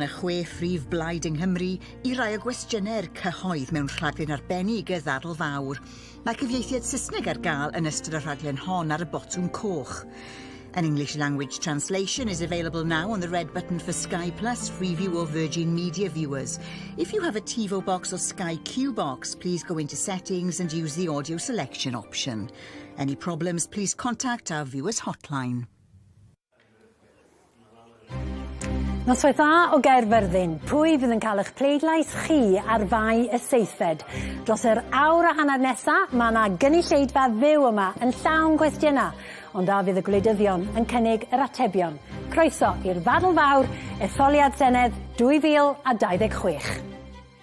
y chwe phrif blaid yng Nghymru i rai o gwestiynau'r cyhoedd mewn rhaglen arbennig y ddadl fawr. Mae cyfieithiad Saesneg ar gael yn ystod y rhaglen hon ar y botwm coch. An English language translation is available now on the red button for Sky Plus free view or Virgin Media viewers. If you have a TiVo box or Sky Q box, please go into settings and use the audio selection option. Any problems, please contact our viewers hotline. Noswaith dda o Gaerfyrddin. Pwy fydd yn cael eich pleidlais chi ar fai y seithfed? Dros yr awr a hanner nesa, mae yna gynulleidfa fyw yma yn llawn gwestiynau, ond a fydd y gwleidyddion yn cynnig yr atebion? Croeso i'r ddadl fawr, etholiad Senedd 2026.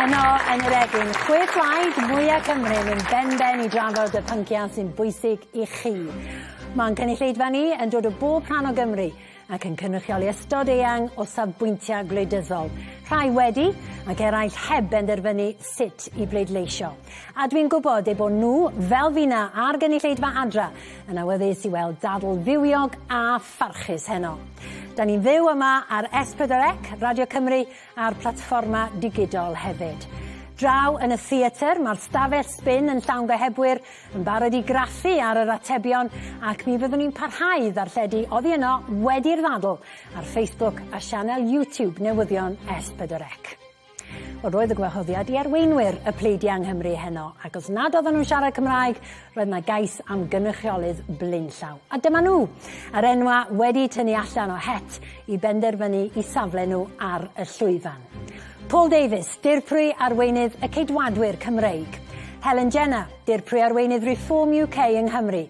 Heno yn yr egin, chwe plaid mwya Cymru yn mynd ben ben i drafod y pynciau sy'n bwysig i chi. Mae'n cynulleidfa ni yn dod o bob rhan o Gymru ac yn cynrychioli ystod eang o safbwyntiau gwleidyddol, rhai wedi ac eraill heb benderfynu sut i bleidleisio. A dwi'n gwybod eu bod nhw, fel fina a'r gynulleidfa adra, yn awyddus i weld dadl fywiog a Pharchus heno. Da ni'n fyw yma ar S4C, Radio Cymru a'r platfforma digidol hefyd. Draw yn y theatr, mae'r stafell sbin yn llawn gohebwyr yn barod i graffu ar yr atebion ac mi fyddwn ni'n parhau i ddarlledu oddi yno wedi'r ddadl ar Facebook a sianel YouTube newyddion S4C. Wel roedd y gwahoddiad i arweinwyr y pleidiau yng Nghymru heno, ac os nad oedden nhw'n siarad Cymraeg, roedd yna gais am gynrychiolydd blaenllaw. A dyma nhw! Yr enwa wedi tynnu allan o het i benderfynu i safle nhw ar y llwyfan. Paul Davies, dirprwy arweinydd y Ceidwadwyr Cymreig. Helen Jenner, dirprwy arweinydd Reform UK yng Nghymru.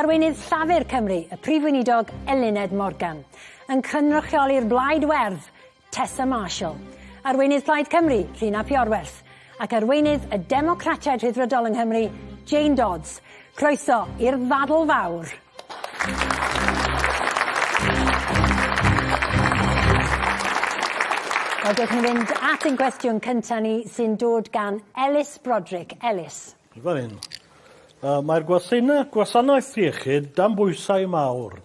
Arweinydd Llafur Cymru, y Prif Weinidog Eluned Morgan. Yn cynrychioli'r Blaid Werdd, Tessa Marshall, arweinydd Plaid Cymru, Llun ap Iorwerth, ac arweinydd y Democratiaid Rhyddfrydol yng Nghymru, Jane Dodds. Croeso i'r ddadl fawr. Wel, dewch ni fynd at ein cwestiwn cyntaf ni, sy'n dod gan Elis Broderick. Elis. Fan hyn. Mae'r gwasanaeth iechyd dan bwysau mawr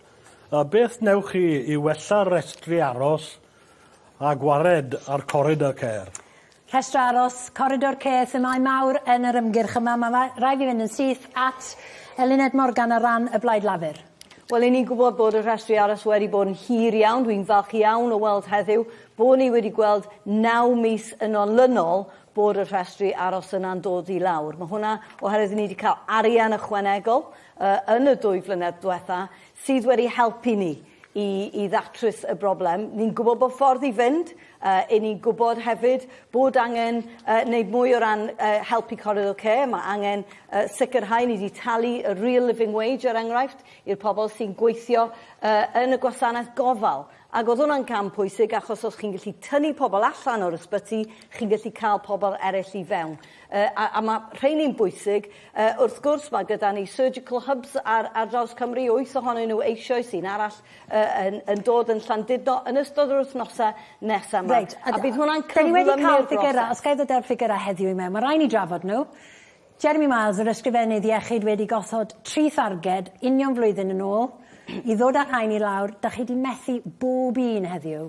A beth wnewch chi i wella rhestri aros a gwared ar Corridor Care? Rhestr aros, Corridor Care, themâu mawr yn yr ymgyrch yma. Mae rhaid fi fynd yn syth at Eluned Morgan ar ran y Blaid Lafur. Wel, 'yn ni'n gwybod bod y rhestri aros wedi bod yn hir iawn. Dwi'n falch iawn o weld heddiw bod ni wedi gweld naw mis yn olynol bod y rhestri aros yna'n dod i lawr. Mae hwnna oherwydd ni wedi cael arian ychwanegol uh, yn y dwy flynedd diwetha sydd wedi helpu ni i, i ddatrys y broblem. Ni'n gwybod bod ffordd i fynd, uh, i ni'n gwybod hefyd bod angen uh, wneud mwy o ran uh, helpu Corridor Care, mae angen uh, sicrhau ni wedi talu y real living wage er enghraifft i'r pobl sy'n gweithio uh, yn y gwasanaeth gofal Ac oedd hwnna'n cam pwysig achos os chi'n gallu tynnu pobl allan o'r ysbyty, chi'n gallu cael pobl eraill i fewn. Uh, a, a mae rheini'n bwysig. Uh, wrth gwrs, mae gyda ni surgical hubs ar, ar draws Cymru, wyth ohonyn nhw eisioes, un arall uh, yn, yn dod yn Llandudno yn ystod yr wythnosau nesaf yma. Right. A, a bydd hwnna'n cyflymu'r broses. Os gael ddod â'r ffigurau heddiw i mewn, mae rhaid ni drafod nhw. Jeremy Miles, yr Ysgrifennydd Iechyd wedi gosod tri tharged union flwyddyn yn ôl i ddod â'r rhain i lawr, dach chi 'di methu bob un heddiw.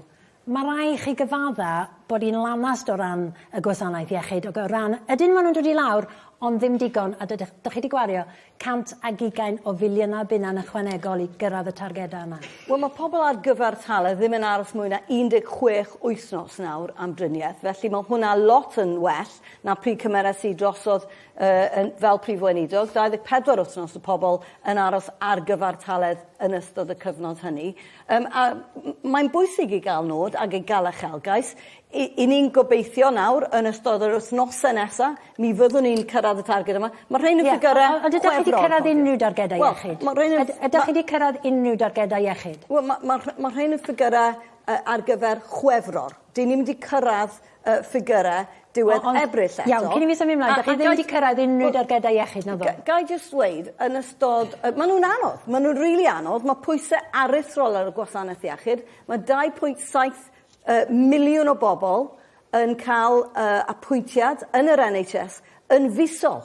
Mae rai i chi gyfadda bod hi'n lanast o ran y gwasanaeth iechyd ac o ran ydyn maen nhw'n dod i lawr ond ddim digon a dydych, dach chi 'di gwario 120 o filiynau bunna'n ychwanegol i gyrraedd y targedau yma. Wel mae pobl ar gyfartaledd ddim yn aros mwy na 16 wythnos nawr am driniaeth felly mae hwnna lot yn well. 'na pryd cymerais i drosodd fel Prif Weinidog, 24 wythnos o pobl yn aros ar gyfartaledd yn ystod y cyfnod hynny. Mae'n bwysig i gael nod ac i gael uchelgais. I ni'n gobeithio nawr yn ystod yr wythnosau nesa', mi fyddwn ni'n cyrraedd y targed yma. Mae'r rhein yn ffigyrau chwefror. Ie, ond ydych chi 'di cyrraedd unrhyw dargedau iechyd? Wel, mae'r rhein... Ydych chi 'di cyrraedd unrhyw dargedau iechyd? Wel, mae'r rhein yn ffigyrau ar gyfer chwefror. Dyn ni'm di cyrraedd y ffigyre diwedd Ebrill eto. Iawn, cyn i mi symud mlaen, dych chi ddim di cyrraedd unrhyw dargedau iechyd, na ddo? Ga i jyst ddweud, yn ystod... Maen nhw'n anodd, maen nhw'n rili anodd, mae pwysau aruthrol ar y gwasanaeth iechyd, mae 2.7 miliwn o bobl yn cael apwyntiad yn yr NHS yn fisol.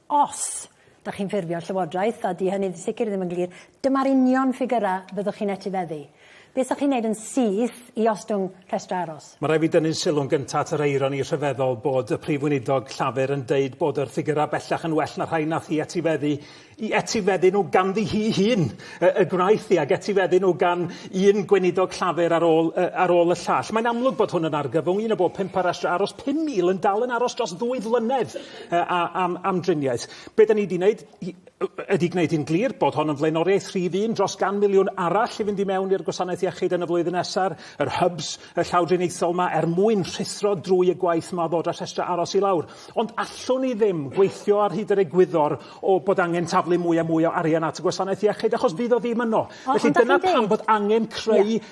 Os dach chi'n ffurfio'r llywodraeth, a 'di hynny'n sicr ddim yn glir, dyma'r union ffigyrau fyddwch chi'n etifeddu. Beth 'sach chi'n wneud yn syth i ostwng rhestrau aros? Mae rhaid fi dynnu'n sylw'n gyntaf at yr eironi rhyfeddol bod y Prif Weinidog Llafur yn deud bod yr ffigyrau bellach yn well na rhai nath hi etifeddu, i etifeddu nhw ganddi hi hun y, y gwnaeth hi, ac etifeddu nhw gan un Gweinidog Llafur ar ôl, y, ar ôl y llall. Mae'n amlwg bod hwn yn argyfwng, un o bob pump ar restr aros, 5,000 yn dal yn aros dros ddwy flynedd. am, am driniaeth. Be da ni wedi wneud ydy gwneud yn glir bod hon yn flaenoriaeth rhif un dros gan miliwn arall i fynd i mewn i'r gwasanaeth iechyd yn y flwyddyn nesaf, yr hubs y llawdriniaethol yma, er mwyn rhuthro drwy y gwaith yma ddod â rhestrau aros i lawr. Ond allwn ni ddim gweithio ar hyd yr egwyddor o bod angen taflu mwy a mwy o arian at y gwasanaeth iechyd, achos fydd o ddim yno. Felly dyna pam bod angen creu yeah.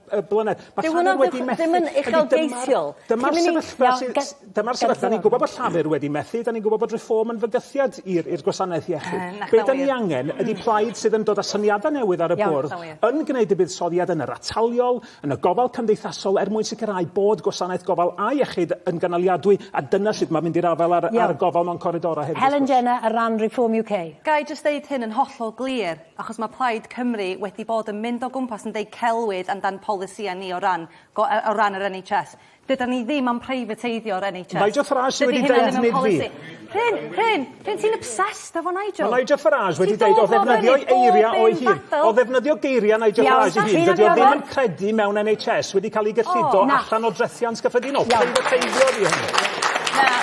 y blynedd. Mae Llafur wedi methu... Ddim yn uchelgeisiol. Dyma'r sefyllfa sydd... Dyma'r sefyllfa. Ni'n gwybod bod Llafur wedi methu. Da ni'n gwybod bod Reform yn fygythiad i'r gwasanaeth iechyd. Be da ni angen ydy plaid sydd yn dod â syniadau newydd ar y bwrdd, yn gwneud y buddsoddiad yn yr ataliol, yn y gofal cymdeithasol, er mwyn sicrhau bod gwasanaeth gofal a iechyd yn gynaliadwy, a dyna sut mae mynd i'r afael â'r gofal mewn coridorau hefyd. Helen Jenner ar ran Reform UK. Ga i jyst ddeud hyn yn hollol glir? achos mae Plaid Cymru wedi bod yn mynd o gwmpas yn deud celwydd amdan polisïau ni o ran go- yy o ran yr NHS. Dydan ni ddim am privateiddio'r NHS. Nigel Farage sydd wedi defnydd fi. Rhun, Rhun, Rhun ti'n obsessed efo Nigel. Mae Nigel Farage wedi deud o ddefnyddio eiriau o'i hun. O ddefnyddio geiriau Nigel Farage ei hun, dydy o ddim yn credu mewn NHS wedi cael ei gyllido allan o drethiant gyffredinol. Privateiddio ydy hynny. Na, na,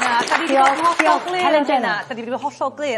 na, da ni wedi bod yn hollol glir. Da ni wedi bod yn hollol glir.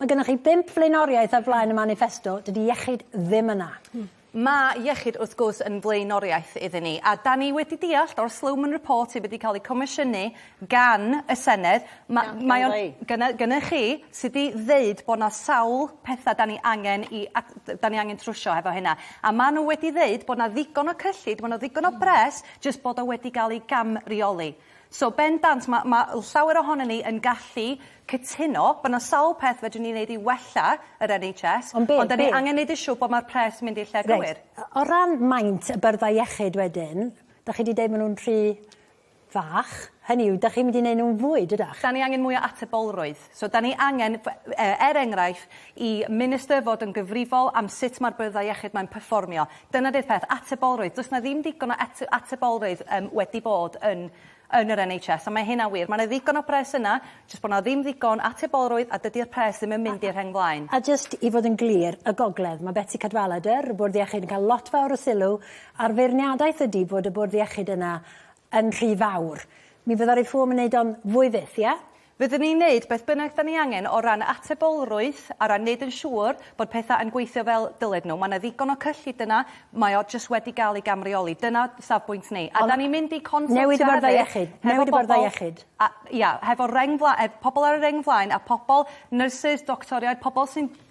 Mae gennych chi bump flaenoriaeth ar flaen y maniffesto, dydy iechyd ddim yna. Mae iechyd wrth gwrs yn flaenoriaeth iddyn ni, a 'dan ni wedi deallt o'r Sloman Report sydd wedi cael ei comisiynu gan y Senedd, ma'... Iawn, gynna i. ...mae o'n... gynna gynna chi sy 'di ddeud bod 'na sawl petha 'dan ni angen 'i ad- d- 'dan ni angen trwsio hefo hynna, a ma' n'w wedi ddeud bod 'na ddigon o cyllid, ma' 'na ddigon o bres, jyst bod o wedi ga'l ei gamreoli. So, bendant, mae, mae llawer ohonon ni yn gallu cytuno bod yna sawl peth fedrwn ni wneud i wella yr NHS, ond, be, ond da ni angen wneud yn siŵr bod mae'r pres yn mynd i'r lle right. gywir. O ran maint y byrddau iechyd wedyn, da chi wedi dweud maen nhw'n rhy fach, hynny yw, da chi'n mynd i wneud nhw'n fwy, dydach? Da ni angen mwy o atebolrwydd. So, 'da ni angen, er enghraifft, i minister fod yn gyfrifol am sut mae'r byrddau iechyd mae'n perfformio. Dyna 'di'r peth, atebolrwydd. Does 'na ddim digon o atebolrwydd um, wedi bod yn yn yr NHS, a mae hynna'n wir. Mae yna ddigon o bres yna, jyst bod yna ddim ddigon atebolrwydd a dydy'r pres ddim yn mynd i'r rheng flaen. A jyst i fod yn glir, y gogledd, mae Betsi Cadwaladr, y bwrdd iechyd, yn cael lot fawr o sylw, a'r feirniadaeth ydy bod y bwrdd iechyd yna yn rhy fawr. Mi fydda Reform yn neud o'n fwy fyth, ie? Fyddwn ni'n neud beth bynnag 'dan ni angen o ran atebolrwydd, a ran neud yn siŵr bod petha yn gweithio fel dyled nhw. Ma' 'na ddigon o cyllid yna, mae o jyst wedi ga'l ei gamreoli. Dyna safbwynt ni. A 'dan ni'n mynd i consultio hefyd... Newid y Bwrdd Iechyd. Newid y Bwrdd Iechyd. ...a ia, hefo reng fla- ef- pobol ar y reng flaen a pobol, nyrsys, doctoriaid, pobol sy'n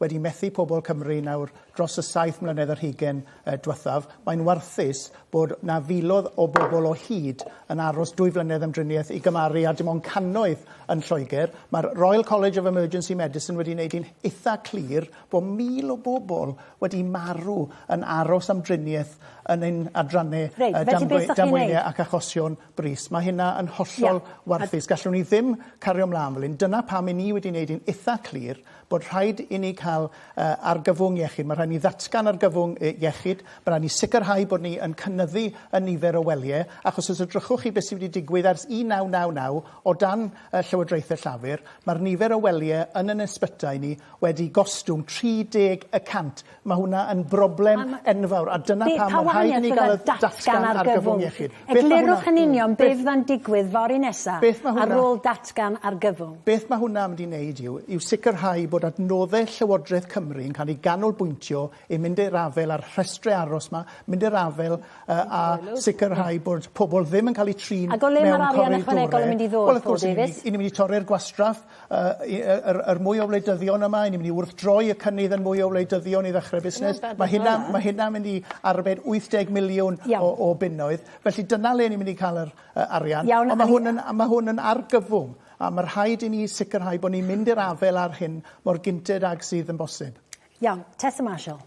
wedi methu pobl Cymru nawr dros y saith mlynedd yr hugain dwethaf, mae'n warthus bod 'na filodd o bobl o hyd yn aros dwy flynedd am driniaeth i gymaru â dim ond cannoedd yn Lloegr. Mae'r Royal College of Emergency Medicine wedi neud hi'n itha clir bo' mil o bobl wedi marw yn aros am driniaeth yn ein adrannau yy damwe- damweinie ac achosion brys. Mae hynna yn hollol warthus. A... Gallwn ni ddim cario ymlaen fel hyn. Dyna pam i ni wedi wneud yn eitha clir bod rhaid i ni cael uh, argyfwng iechyd. Mae rhaid ni ddatgan argyfwng uh, iechyd. Mae rhaid ni sicrhau bod ni yn cynnyddu y nifer o welyau, achos os ydrychwch chi beth sydd wedi digwydd ers 1999 o dan uh, Llywodraethau Llafur, mae'r nifer o welyau yn yn ysbytai ni wedi gostwng 30 y cant. Mae hwnna yn broblem enfawr, a dyna pam mae'n rhaid i ni gael y datgan argyfwng iechyd. Eglurwch yn union be fydda'n digwydd fory nesa ar ôl datgan argyfwng. Beth mae hwnna'n mynd i wneud yw, yw sicrhau bod adnoddau Llywodraeth Cymru yn cael eu ganolbwyntio i mynd i'r afael â'r rhestrau aros 'ma, mynd i'r afael a sicrhau bod pobl ddim yn cael eu trin mewn corridorau. Ac o le mae'r arian ychwanegol yn mynd i ddod, Paul Davies? Wel, wrth gwrs, 'y ni'n mynd i torri'r gwastraff, yr yr mwy o wleidyddion yma, ni'n mynd i wrthdroi y cynnydd yn mwy o wleidyddion i ddechrau busnes. Mae hynna mae hynna'n mynd i arbed 80 miliwn o o bunnoedd. Felly dyna le ni'n mynd i ca'l yr yy arian. Iawn. Ond ma' hwn yn a ma' hwn yn argyfwng a ma' rhaid i ni sicrhau bo' ni'n mynd i'r afel â'r hyn mor gynted ag sydd yn bosib. Iawn. Tessa Marshall.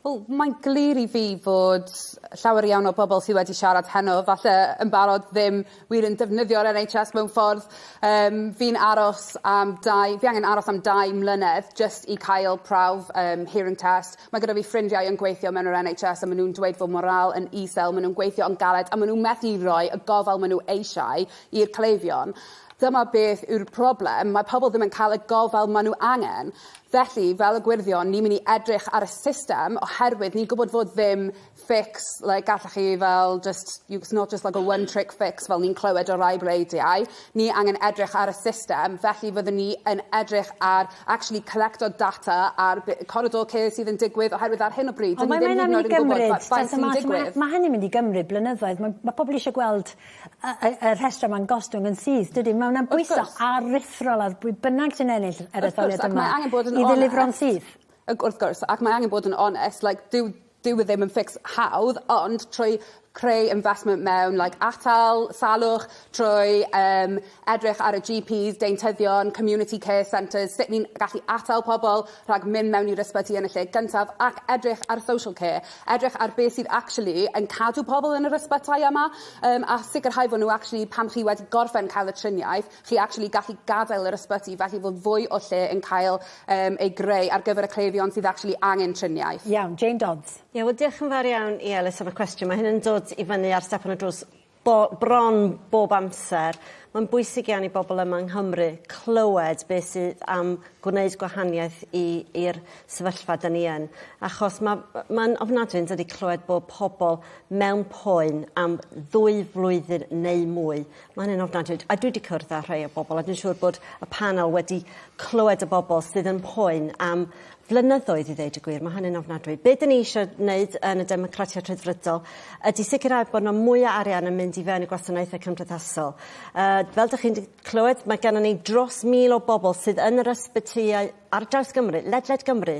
Wel mae'n glir i fi fod llawer iawn o bobl sydd wedi siarad heno falle yn barod ddim wir yn defnyddio'r NHS mewn ffordd um, fi'n aros am dau fi angen aros am dau mlynedd just i cael prawf um, hearing test mae gyda fi ffrindiau yn gweithio mewn yr NHS a maen nhw'n dweud fod morale yn isel maen nhw'n gweithio yn galed a maen nhw'n methu rhoi y gofal maen nhw eisiau i'r cleifion Dyma beth yw'r problem, mae pobl ddim yn cael y gofal maen nhw angen. Felly, fel y gwyrddion, ni'n mynd i edrych ar y system oherwydd ni'n gwybod fod ddim fix, like, gallech chi fel just, it's not just like a one trick fix fel ni'n clywed o rai bleidiau. Ni angen edrych ar y system, felly fyddwn ni yn edrych ar actually collecto data ar be, corridor care sydd yn digwydd oherwydd ar hyn o bryd, dyn ni ddim hyd yn oed yn gwybod faint sy'n digwydd. Mae hynny'n mynd i gymryd blynyddoedd. Mae, mae pobl eisiau gweld y y y rhestre ma'n gostwng yn syth dydi ma' wnna'n bwyso... Wrth gwrs. ...aruthrol ar bwy bynnag sy'n ennill yr etholiad yma. Wrth gwrs ac mae angen bod yn onest. ...i ddelifro'n syth. Ag wrth gwrs ac mae angen bod yn onest like dyw dyw e ddim yn fix hawdd ond trwy creu investment mewn like atal salwch trwy yym edrych ar y GPs, deintyddion, community care centres, sut ni'n gallu atal pobl rhag mynd mewn i'r ysbyty yn y lle gyntaf ac edrych ar social care, edrych ar beth sydd actually yn cadw pobl yn yr ysbytai yma um, a sicrhau fod nhw actually pan chi wedi gorffen cael y triniaeth, chi actually gallu gadael yr ysbyty felly fod fwy o lle yn cael um, ei greu ar gyfer y cleifion sydd actually angen triniaeth. Iawn, Jane Dodds. Ie, wel diolch yn fawr iawn i Elis am y cwestiwn. Mae hyn yn dod i fyny ar stepan y drws Bo, bron bob amser. Mae'n bwysig iawn i bobl yma yng Nghymru clywed beth sydd am gwneud gwahaniaeth i, i'r sefyllfa dyn ni yn. Achos ma, mae'n ofnadwy yn dydi clywed bod pobl mewn poen am ddwy flwyddyn neu mwy. Mae hynny'n ofnadwy. A dwi wedi cwrdd â rhai o bobl a dwi'n siŵr bod y panel wedi clywed y bobl sydd yn poen am flynyddoedd i ddeud y gwir, mae hynny'n ofnadwy. Be dyn ni eisiau wneud yn y Democratiaid Rhyddfrydol ydy sicrhau bod yna mwy o arian yn mynd i fewn i gwasanaethau cymdeithasol. Uh, fel dych chi'n clywed, mae gennym ni dros mil o bobl sydd yn yr ysbytyau ar draws Gymru, ledled Gymru,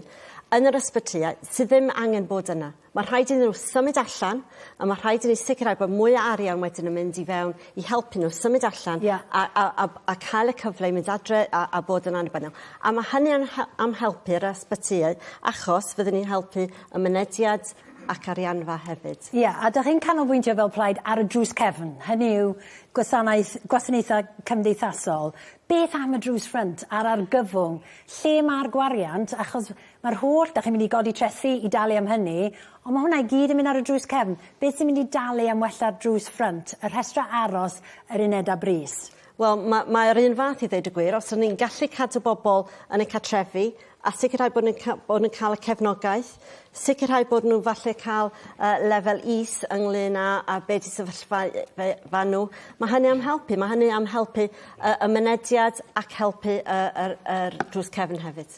yn yr ysbytyau sydd ddim angen bod yna. Mae rhaid iddyn nhw symud allan a mae rhaid i ni sicrhau bod mwy o arian wedyn yn mynd i fewn i helpu nhw symud allan yeah. a, a, a, a cael y cyfle i mynd adre a, a bod yn annibynnol. A mae hynny yn, am helpu'r ysbytyau achos fyddwn ni'n helpu y mynediad ac arianfa hefyd. Ie, yeah, a dych chi'n canolbwyntio fel plaid ar y drws cefn, hynny yw gwasanaeth, gwasanaethau cymdeithasol. Beth am y drws ffrynt a'r argyfwng? Lle mae'r gwariant? Achos Mae'r holl, dach chi'n mynd i godi trethi i dalu am hynny, ond mae hwnna i gyd yn mynd ar y drws cefn. Beth sy'n mynd i dalu am wella'r drws ffrynt, y rhestrau aros, yr unedau brys? Wel, ma- mae'r un fath i ddeud y gwir. Os 'yn ni'n gallu cadw bobl yn eu cartrefi a sicrhau bod nw'n ca- bod nw'n ca'l y cefnogaeth sicrhau bod n'w falle ca'l yy lefel is ynglŷn â â be' 'di sefyllfa yy fe- fan n'w ma' hynny am helpu ma' hynny am helpu yy y mynediad ac helpu yy yr yr drws cefn hefyd.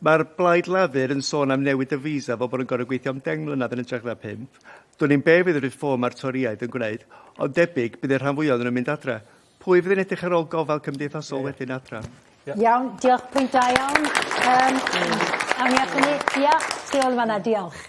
Mae'r Blaid Lafur yn sôn am newid y visa fel bod yn gorfod gweithio am 10 mlynedd yn ytrach na pump. Dwn i'm be fydd y Reform mae'r Torïaid yn gwneud, ond debyg bydd y rhan fwyaf ohonyn nhw'n mynd adra. Pwy fydd yn edrych ar ôl gofal cymdeithasol wedyn adra? Iawn, diolch. Pwynt da iawn. Yym, awn ni at hynny. Ia, tu ôl yn fan'na. Diolch.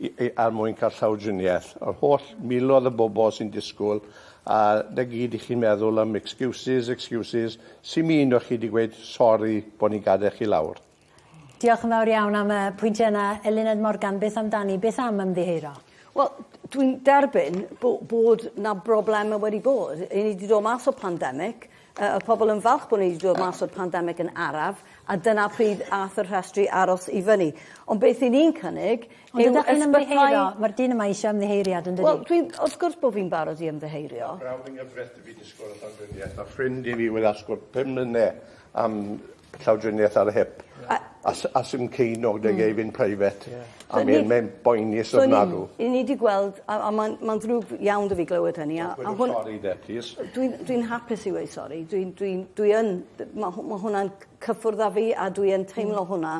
er mwyn cael llawdriniaeth. Yr holl miloedd o bobl sy'n disgwyl, a 'na gyd i chi'n meddwl am excuses, excuses, sim un o chi 'di gweud sori bod ni'n gadael chi lawr. Diolch yn fawr iawn am y pwyntiau yna. Eluned Morgan, beth amdani, beth am ymddiheuro? Wel, dwi'n derbyn bod 'na broblemau wedi bod. 'Yn ni 'di dod mas o pandemic, y pobl yn falch bod ni wedi dod mas o'r pandemig yn araf, a dyna pryd ath y rhestri aros i fyny. Ond beth i ni'n cynnig yw ysbytai... Ond ydych chi'n ymddiheuro? Mae'r dyn yma eisiau ymddiheuriad, yn dydi? Wel, dwi'n... wrth gwrs bod fi'n barod i ymddiheuro. Brawd yng nghyfraith i fi disgwyl y llawdriniaeth, a ffrind i fi wedi asgwrn pum mlynedd am llawdriniaeth ar y hip. A... A s- a sdim ci nôl 'da fi fynd private. Ie. A mi o'dd e'n boenus ofnadw. So ni ni 'di gweld a a ma'n ma'n ddrwg iawn 'dy fi glywed hynny a a hwn... Gweud y stori 'de plîs. Dwi'n dwi'n hapus i weud sori dwi'n dwi'n dwi yn d- ma' hw- ma' hwnna'n cyffwrdd â fi a dwi yn teimlo hwnna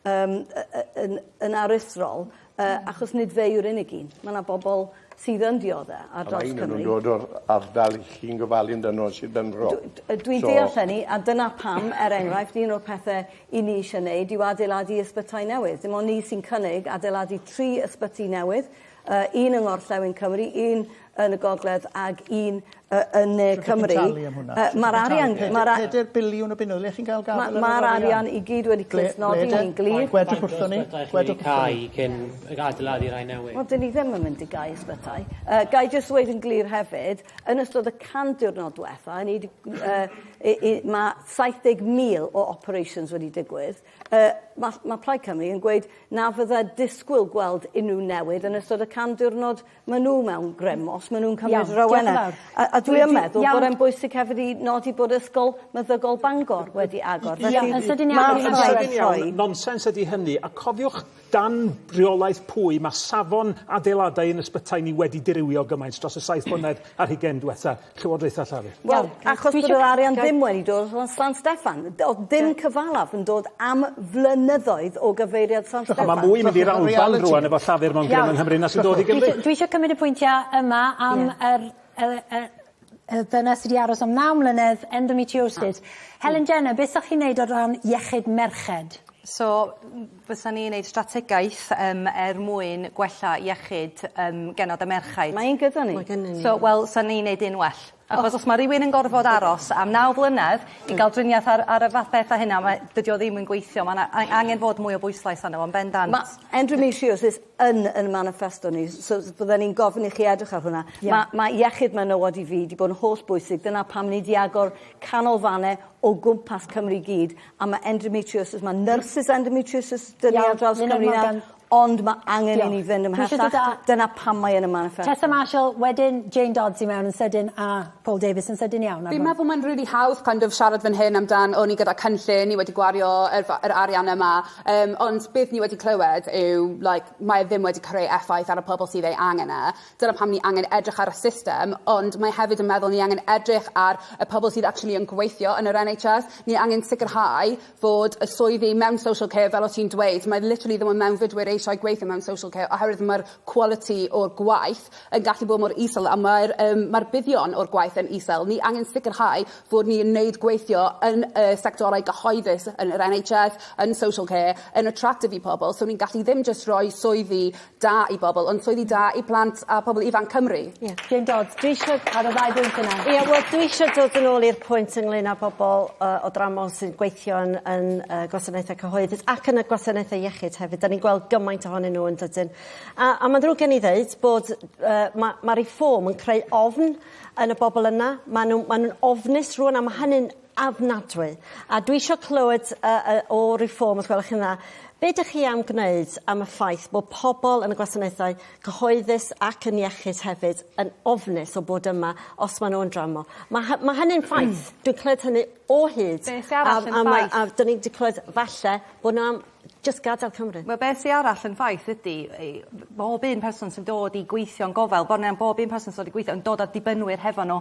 yym y- y- yn yn aruthrol Yy achos nid fe yw'r unig un. Ma' 'na bobol sydd yn diodde ar draws Cymru. A ma' un o nw'n dod o'r ardal 'ych chi'n gofalu amdano yn Sir Benfro. Dw- d- yy dwi'n deall hynny a dyna pam er enghraifft un o'r pethe 'yn ni isie neud yw adeiladu ysbytai newydd. Dim on' ni sy'n cynnig adeiladu tri ysbyty newydd yy un yng Ngorllewin Cymru un yn y gogledd ag un yy yn ne Cymru. Sut ti'n talu am hwnna? Yy ma'r arian ma'r a-... Peder biliwn o bunnoedd, ble chi'n ga'l gafel ar yr arian? Ma'r arian i gyd wedi clustnodi yn glir. Gwedwch wrthon ni, gwedwch wrthon ni. Cai cyn ag adeiladu rhai newydd. Wel 'dyn ni ddim yn mynd i gau ysbytai. Yy gai jyst ddweud yn glir hefyd, yn ystod y 100 diwrnod dwetha, ni 'di yy i i ma' 70,000 o operations wedi digwydd. Yy ma' ma' Plaid Cymru yn gweud na fydda disgwyl gweld unryw newid yn ystod y 100 diwrnod Ma' n'w mewn grym os ma' nw'n cymryd... Iawn diolch yn fawr. ...a a dwi yn meddwl bod e'n bwysig hefyd i nodi bod Ysgol Meddygol Bangor wedi agor felly... Iawn yn sydyn iawn yn sydyn iawn nonsens ydi hynny a cofiwch dan reolaeth pwy ma' safon adeiladau yn ysbytai ni wedi dirywio gymaint dros y saith blynedd ar hugen dwetha Llywodraetha Llafur. Wel, achos bod yr arian ddim wedi dod o San Steffan. O'dd dim cyfalaf yn dod am flynyddoedd o gyfeiriad San Steffan. Mae mwy yn mynd i'r Alban rwan efo Llafur mewn grym yng Nghymru na sy'n dod i Gymru. Dwi isio cymryd y pwyntiau yma am yr y dyna sy 'di aros am naw mlynedd, endometriosis. Helen Jenner, beth 'sach chi'n neud o ran iechyd merched? So Bysan ni'n neud strategaeth yym er mwyn gwella iechyd yym genod a merchaid. Mae un gyda ni. Mae gennyn ni. So wel sa ni'n neud un well. Achos os ma' rywun yn gorfod aros am naw flynedd i ga'l driniaeth ar ar y fath beth a hynna mae dydi o ddim yn gweithio ma' 'na a- angen fod mwy o bwyslais arno fo yn bendant. Ma' endometriosis yn yn maniffesto ni so s- bydden i'n gofyn i chi edrych ar hwnna. Ie. Ma' ma' iechyd menywod i fi 'di bod yn holl bwysig dyna pam ni 'di agor canolfane o gwmpas Cymru i gyd A ma' endometriosis ma' nyrsys endometriosis 'dyn ni ar draws Cymru nawr ond ma' angen i ni fynd ymhellach. Dyna pam mae yn y maniffesto. Tessa Marshall wedyn Jane Dodds i mewn yn sydyn a Paul Davies yn sydyn iawn ar hwn. Fi'n meddwl mae'n rili hawdd kind of siarad fan hyn amdan o ni gyda cynllun ni wedi gwario yr fa- yr arian yma yym ond beth ni wedi clywed yw like mae e ddim wedi creu effaith ar y pobol sydd ei angen e. Dyna pam ni angen edrych ar y system, ond mae hefyd yn meddwl ni angen edrych ar y pobl sydd actually yn gweithio yn yr NHS. Ni angen sicrhau fod y swyddi mewn social care, fel o' ti'n dweud, mae literally ddim yn mewnfudwyr eisiau gweithio mewn social care oherwydd mae'r quality o'r gwaith yn gallu bod mor isel a mae'r um, mae'r buddion o'r gwaith yn isel. Ni angen sicrhau fod ni yn neud gweithio yn y sectorau gyhoeddus yn yr NHS, yn social care, yn attractive i pobl, so ni'n gallu ddim just rhoi swyddi da i bobl ond swyddi da i plant a pobl ifanc Cymru. Ie. Jane Dodds. Dwi isio... Ar y ddau bwynt yna. Ie wel dwi isio dod yn ôl i'r pwynt ynglŷn â bobol yy o dramor sy'n gweithio yn yn yy gwasanaethau cyhoeddus ac yn y gwasanaethau iechyd hefyd 'dan ni'n gweld gymaint ohonyn n'w yndydyn? A a ma'n ddrwg gen i ddeud bod yy ma' ma' Reform yn creu ofn yn y bobol yna ma' n'w ma' nw'n ofnus rŵan a ma' hynny'n ofnadwy. A dwi isio clywed yy yy o Reform os gwelwch chi'n dda be' 'dych chi am gwneud am y ffaith bo' pobol yn y gwasanaethau cyhoeddus ac yn iechyd hefyd yn ofnus o bod yma os ma' n'w yn dramor. Ma' hy- ma' hynny'n ffaith. Dwi'n clywed hynny o hyd. Be' sy arall yn ffaith? A a ma' a 'dyn ni 'di clywed falle bo' n'w am jyst gadel Cymru. Wel be' sy arall yn ffaith ydi ei- bob un person sy'n dod i gweithio'n gofal bron iawn bob un person sy dod i gwithio yn dod â dibynwyr hefo n'w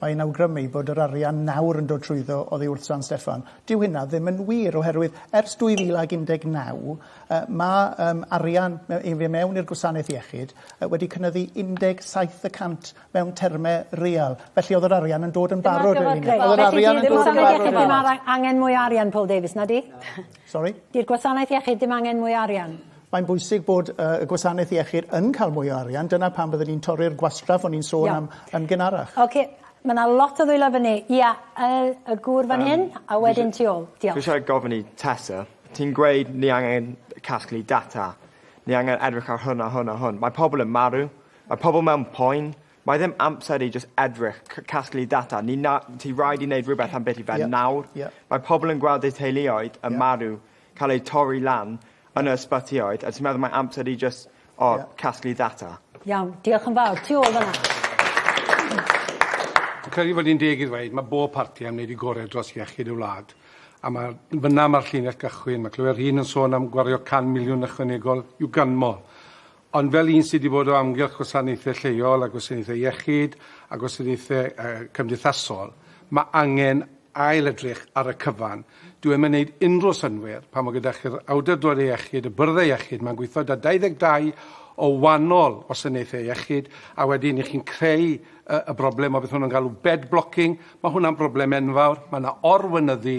Mae'n awgrymu bod yr arian nawr yn dod trwyddo oddi wrth San Steffan. Dyw hynna ddim yn wir oherwydd ers 2019 mae arian i mewn i'r gwasanaeth iechyd wedi cynyddu 17 y cant mewn termau real. Felly oedd yr arian yn dod yn barod. Oedd yr arian yn dod yn barod. Felly dyw y gwasanaeth iechyd ddim angen mwy o arian, Paul Davies, na 'di? Sori? Di'r gwasanaeth iechyd ddim angen mwy o arian. Mae'n bwysig bod uh, y gwasanaeth iechyd yn cael mwy o arian. Dyna pan byddwn ni'n torri'r gwastraff o'n i'n sôn Iawn. am yn gynharach. Oce, okay. mae yna lot o ddwylo fyny. Ia, y, y gŵr fan hyn, a wedyn ti ôl. Diolch. Fi eisiau gofyn i Tessa, ti'n gweud ni angen casglu data, ni angen edrych ar hwn a hwn a hwn. Mae pobl yn marw, mae pobl mewn poen, Mae ddim amser i jyst edrych, c- casglu data. Ni na, ti rhaid i wneud rhywbeth am beth i fe yeah. nawr. Yeah. Mae pobl yn gweld eu teuluoedd yn yeah. marw, cael eu torri lan yeah. yn y ysbytioedd, a ti'n meddwl mae amser i jyst o, yeah. casglu data. Iawn, diolch yn fawr. Ti ôl fyna. Dwi'n credu fod hi'n deg i ddweud, mae bob parti am wneud i gorau dros iechyd y wlad. A mae fyna mae'r llinell gychwyn. Mae clywed rhywun yn sôn am gwario 100 miliwn ychwanegol i'w ganmol. Ond fel un sydd wedi bod o amgylch gwasanaethau lleol a gwasanaethau iechyd a gwasanaethau uh, cymdeithasol, mae angen ail edrych ar y cyfan. Dwi ddim yn gwneud unrhyw synwyr pan mae gyda chi'r awdurdodau iechyd, y byrddau iechyd, mae'n gweithio da 22 o wahanol wasanaethau iechyd, a wedyn i chi'n creu y, y broblem o beth hwnnw'n galw bed blocking, mae hwnna'n broblem enfawr, mae yna orwynyddu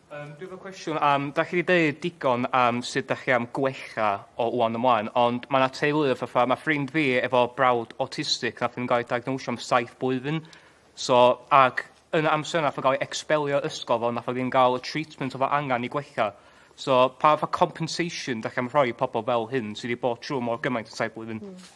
Yym dwi efo cwestiwn am dach chi 'di deud digon am sut dach chi am gwella o ŵan ymlaen ond ma' 'na teuluoedd fatha ma' ffrind fi efo brawd awtistig nath ddim ga'l ei diagnosio am saith blwyddyn so ag yn y amser nath o ga'l ei ecsbelio ysgol fo nath o ddim ga'l y treatment o'dd o angan i gwella so pa fath o compensation dach chi am rhoi i pobol fel hyn sy' 'di bod trw' mor gymaint yn saith blwyddyn? Hmm.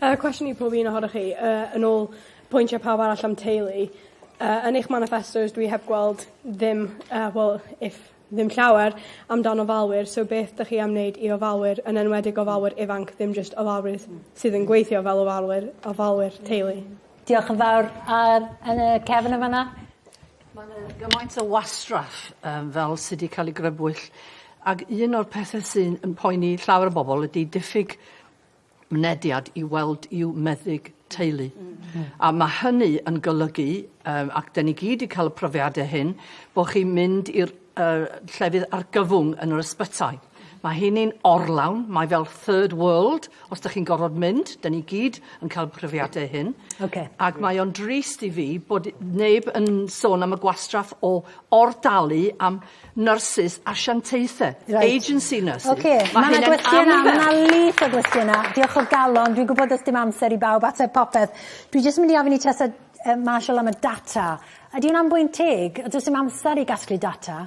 Yy cwestiwn i pob un ohonoch chi yy yn ôl pwyntie pawb arall am teulu yy yn eich maniffestos dwi heb gweld ddim yy wel if ddim llawer amdan ofalwyr so beth 'dych chi am neud i ofalwyr yn enwedig gofalwyr ifanc ddim jyst ofalwyr sydd yn gweithio fel ofalwyr ofalwyr teulu. Diolch yn fawr yy yn y cefyn yn fana. Ma' 'na gymaint o wastraff yym fel sy 'di ca'l ei grybwyll ag un o'r pethe sy'n yn poeni llawer o bobol ydi diffyg mynediad i weld i'w meddyg teulu. A mae hynny yn golygu, um, ac dyn ni gyd wedi cael y profiadau hyn, bod chi'n mynd i'r uh, llefydd argyfwng yn yr ysbytai. Mae hynny'n orlawn, mae fel third world, os da chi'n gorfod mynd, da ni gyd yn cael profiadau hyn. Okay. Ac mae o'n drist i fi bod neb yn sôn am y gwastraff o ordalu am Nyrsys asiantaethau. Reit. Agency nurses. Ocê. Ma' 'na gwestiyna ma' 'na lwyth o gwestiyna. Diolch o galon dwi'n gwbod do's dim amser i bawb ateb popeth. Dwi jyst mynd i ofyn i Tessa yy Marshall am y data. Ydi wnna'n bwynt teg? Yy do's dim amser i gasglu data.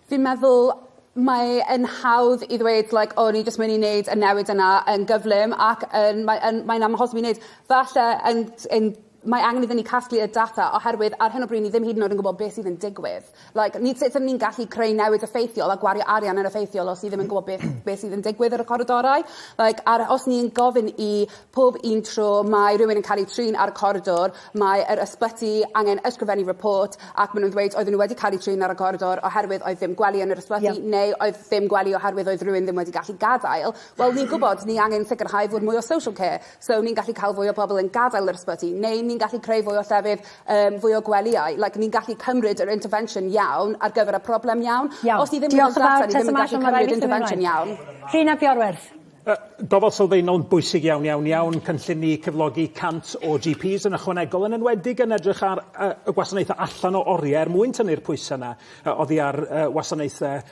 Fi'n meddwl mae e'n hawdd i ddweud like o ni jyst myn' i neud y newid yna yn gyflym ac yn mae yn mae'n amhosib i neud. Falle yn t- yn Mae angen iddyn ni casglu y data oherwydd ar hyn o bryd ni ddim hyd yn oed yn gwybod beth sydd yn digwydd. Like, ni sut ydyn ni'n gallu creu newid effeithiol a gwario arian yn effeithiol os ni ddim yn gwybod beth beth sydd yn digwydd ar y coridorau. Like, ar os ni yn gofyn i pob un tro mae rhywun yn cael eu trin ar y coridor, mae yr ysbyty angen ysgrifennu report ac ma' nhw'n dweud oedden nhw wedi cael eu trin ar y coridor oherwydd oedd ddim gwely yn yr ysbyty... Ie. ...neu oedd ddim gwely oherwydd oedd rhywun ddim wedi gallu gadael. Wel ni'n gwybod ni angen sicrhau fod mwy o social care. So ni'n gallu cael fwy o bobl yn gadael yr ysbyty, neu ni'n gallu creu fwy o llefydd, yym, fwy o gwelyau. Like, ni'n gallu cymryd yr intervention iawn ar gyfer y problem iawn. Iawn. Os ni ddim yn mynd allan, ni ddim yn gallu cymryd intervention iawn. Rhun ap Iorwerth. Yy, gofal sylfaenol yn bwysig iawn, iawn, iawn. Cynllun ni cyflogi 100 o GPs yn ychwanegol, yn enwedig yn edrych ar yy y gwasanaethau allan o oriau er mwyn tynnu'r pwysau yna yy oddi ar yy wasanaethau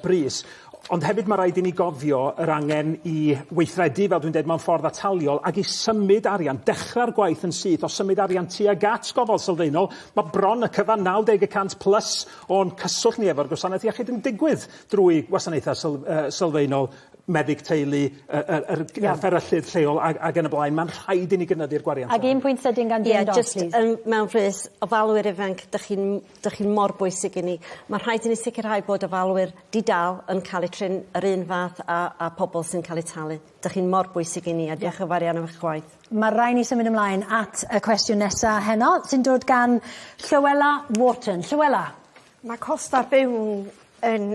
brys. Ond hefyd mae rhaid i ni gofio yr angen i weithredu, fel dwi'n dweud, mewn ffordd ataliol ac i symud arian, dechrau'r gwaith yn syth o symud arian tuag at gofal sylfaenol. Mae bron y cyfan 90 y cant plus o'n cyswllt ni efo'r gwasanaeth iechyd yn digwydd drwy wasanaethau syl, uh, sylfaenol meddyg teulu, y, y, y, y fferyllydd lleol ac, ac yn y blaen. Mae'n rhaid i ni gynyddu'r gwariant. Ac un pwynt sydyn gan Jim yeah, Dodd, just, um, mewn rhys, ofalwyr ifanc, dych chi'n Dych chi mor bwysig i ni. Mae rhaid i ni sicrhau bod ofalwyr di-dâl yn cael eu trin yr un fath â, â pobl sy'n cael eu talu. Dych chi'n mor bwysig i ni a diolch yn fawr iawn am eich gwaith. Mae rhaid ni symud ymlaen at y cwestiwn nesa heno, sy'n dod gan Llywela Wharton. Llywela? Mae costau byw yn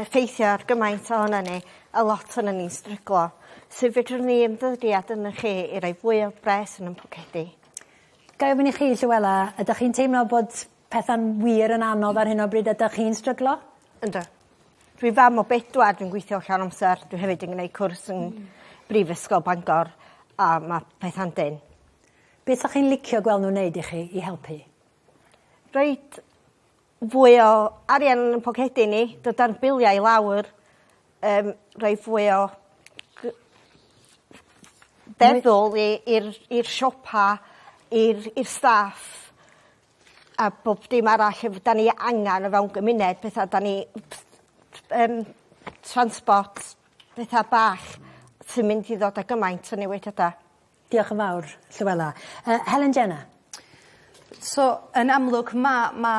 effeithio ar gymaint ohonon ni, a lot ohonon ni'n stryglo. Sut fedrwn ni ymddygiad ynddo chi i roi fwy o bres yn ein pocedi? Ga i ofyn i chi, Llywela, ydych chi'n teimlo bod pethau'n wir yn anodd ar hyn o bryd ydych chi'n stryglo? Yndw. Dwi fam o bedwar dwi'n gweithio llawn amser dwi hefyd yn gneud cwrs yn... Hmm. ...Brifysgol Bangor a ma' petha'n dynn. Be' 'sach chi'n licio gweld n'w neud i chi i helpu? Reit fwy o arian yn 'yn pocedi ni dydan biliau i lawr yym rhoi fwy o gy- feddwl i i'r i'r siopa i'r i'r staff a bob dim arall yy 'dan ni angan o fewn gymuned petha 'dan ni yym transport petha bach sy'n mynd i ddod â gymaint o newidiada. Diolch yn fawr, Llywela. Uh, Helen Jenna. So, yn amlwg, mae ma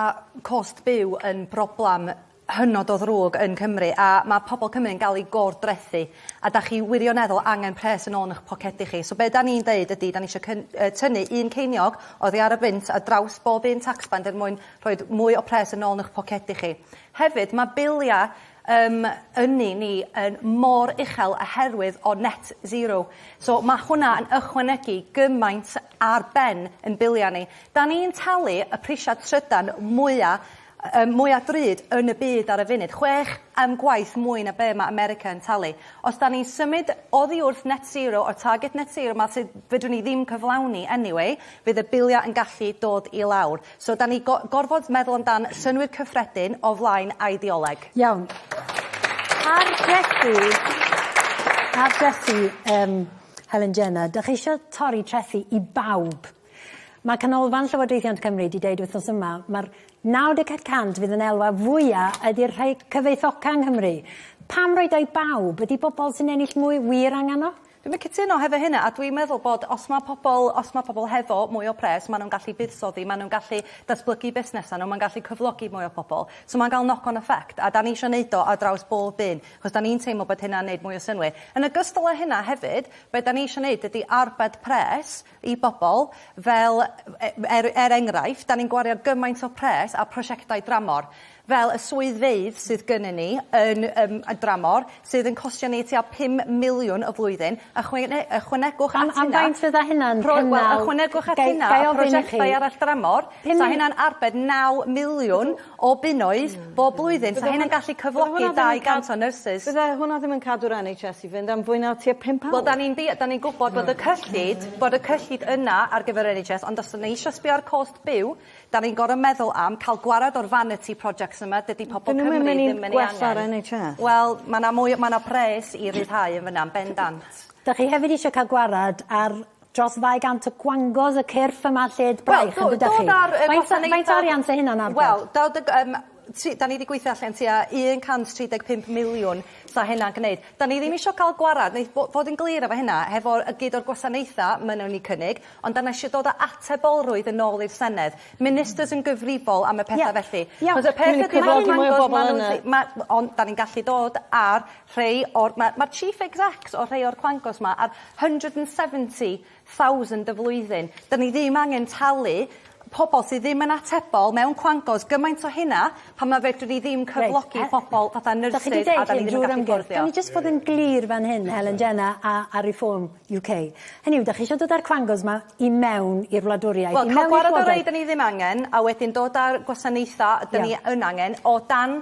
cost byw yn broblem hynod o ddrwg yn Cymru a mae pobl Cymru yn cael ei gordrethu a da chi wirioneddol angen pres yn ôl yn eich pocedi chi. So be da ni'n deud ydy, da ni eisiau tynnu un ceiniog oddi ar y fynt a draws bob un taxband er mwyn rhoi mwy o pres yn ôl yn eich pocedi chi. Hefyd, mae biliau Yym yni ni yn mor uchel a herwydd o net zero. So ma' hwnna yn ychwanegu gymaint ar ben yn bilia ni. Da ni'n talu y prisia trydan mwya yym mwya drud yn y byd ar y funud, chwech yym gwaith mwy na be' ma' America yn talu. Os da ni'n symud oddi wrth net zero o'r target net zero ma' sydd fedrwn ni ddim cyflawni anyway fydd y bilia yn gallu dod i lawr. So 'dan ni go- gorfod meddwl amdan synnwyr cyffredin o flaen ideoleg. Iawn. Targedu targedu yym Helen Jenner, 'dach chi isio torri trethi i bawb. Ma' Canolfan Llywodraethiant Cymru 'di deud wythnos yma ma'r 94 y cant fydd yn elwa fwya ydi'r rhei cyfoethoca yng Nghymru. Pam roid o i bawb? Ydi bobol sy'n ennill mwy wir angan o? Dwi'm yn cytuno hefo hynna a dwi'n meddwl bod os ma' pobol os ma' pobol hefo mwy o pres ma' nw'n gallu buddsoddi ma' nw'n gallu datblygu busnesa' n'w ma'n gallu cyflogi mwy o pobol so ma'n ga'l knock on effect a 'dan ni isio neud o ar draws bob un 'chos 'dan ni'n teimlo bod hynna'n neud mwy o synnwyr. Yn ogystal â hynna hefyd be' 'dan ni isio neud ydi arbed pres i bobl, fel, er, er enghraifft, 'dan ni'n gwario gymaint o pres ar prosiectau dramor, fel y swyddfeydd sydd gynnon ni yn yym y dramor, sydd yn costio ni tua pum miliwn y flwyddyn, ychwne- ychwanegwch at hynna... Am am faint fydda hynna'n cynnal... Rho- wel, ychwanegwch at hynna... Ga- ga- i ofyn i chi... ...prosiectau arall dramor... Pum mil-... ...'sa hynna'n arbed naw miliwn o bunnoedd bob blwyddyn. Bydde hwnna... 'Sa hynna'n gallu cyflogi 200 o nyrsys. Bydde hwnna ddim yn cadw'r En Haitch Ess i fynd am fwy na tua pump awr. Wel 'dan ni'n dea- 'dan ni'n gwbod bod y cyllid bod y cyllid yna ar gyfer yr En Haitch Ess ond os 'dyn ni eisio sbio ar cost byw 'dan ni'n gor'o' meddwl am ca'l gwarad o'r vanity projects yma dydi pobol Cymru ddim yn 'u angen. 'Dyn nw'm yn myn' i gwella'r En Haitch Ess. Wel ma' 'na mwy o ma' 'na pres i ryddhau yn fyn 'na yn bendant. 'Dach chi hefyd isio ca'l gwarad ar Dros ddau gant o gwangos y cyrff yma lled braich yn dydach chi. Wel, do- dodd a'r gwasanaetha'... Faint o arian sy hynna'n arbed? Wel, do- dod ag yym tri- 'dan ni 'di gweithio allan tua un cant tri deg pump miliwn sa hynna'n gneud. 'Dan ni ddim isio ca'l gwarad neith bo- fod yn glir efo hynna hefo y gyd o'r gwasanaetha' ma' newn ni cynnig ond 'dan ni isio dod â atebolrwydd yn ôl i'r Senedd. Ministers yn gyfrifol am y petha felly. Ia. Ia. 'C'os y peth ydi ma' nw'n dangos ma' nw'n lle... Ma' on' 'dan ni'n gallu dod a'r rhei o'r... Mae mae'r chief execs o rhei o'r clangos 'ma ar hundred and seventy thousand y flwyddyn. 'Dyn ni ddim angen talu pobol sy ddim yn atebol mewn clangos gymaint o hynna pan na fedrwn ni ddim cyflogi... Reit a-... ...pobol fatha nyrsys a 'dan ni ddim yn gallu fforddio. Gawn ni jyst bod yn glir fan hyn Helen Jenna a a Reform UK hynny yw 'dach chi isio dod a'r clangos 'ma i mewn i'r wladwriaeth i mewn i'r llywodraeth? Wel ca'l gwarad ar rei 'dyn ni ddim angen a wedyn dod a'r gwasanaetha... Ia. ...'dyn ni yn angen o dan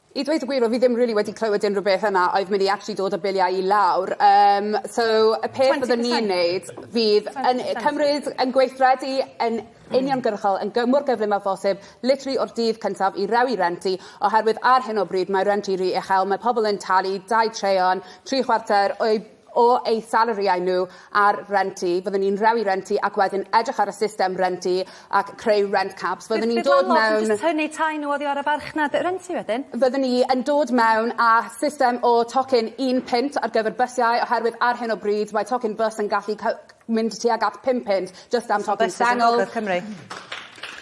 I dweud y gwir, oedd fi ddim rili wedi clywed unrhyw beth yna oedd mynd i actually dod â biliau i lawr. Um, so, y peth byddwn ni'n neud fydd yn cymryd yn gweithredu yn uniongyrchol yn gymor gyflym â phosib, literally o'r dydd cyntaf i rewi rent i, oherwydd ar hyn o bryd mae rent i ry uchel, mae pobl yn talu dau traean, tri chwarter o'i o eu salariau nhw ar rent i, fyddwn ni'n rhewi rent i ac wedyn edrych ar y system rent i ac creu rent caps. Fyddwn ni'n dod mewn... Bydd landlords yn jyst tynnu tai nhw oddi ar y farchnad rent i wedyn? Fyddwn ni yn dod mewn â system o tocyn un punt ar gyfer bysiau oherwydd ar hyn o bryd mae tocyn bws yn gallu mynd tuag at pum punt jyst am ffocin sengl. Cymru.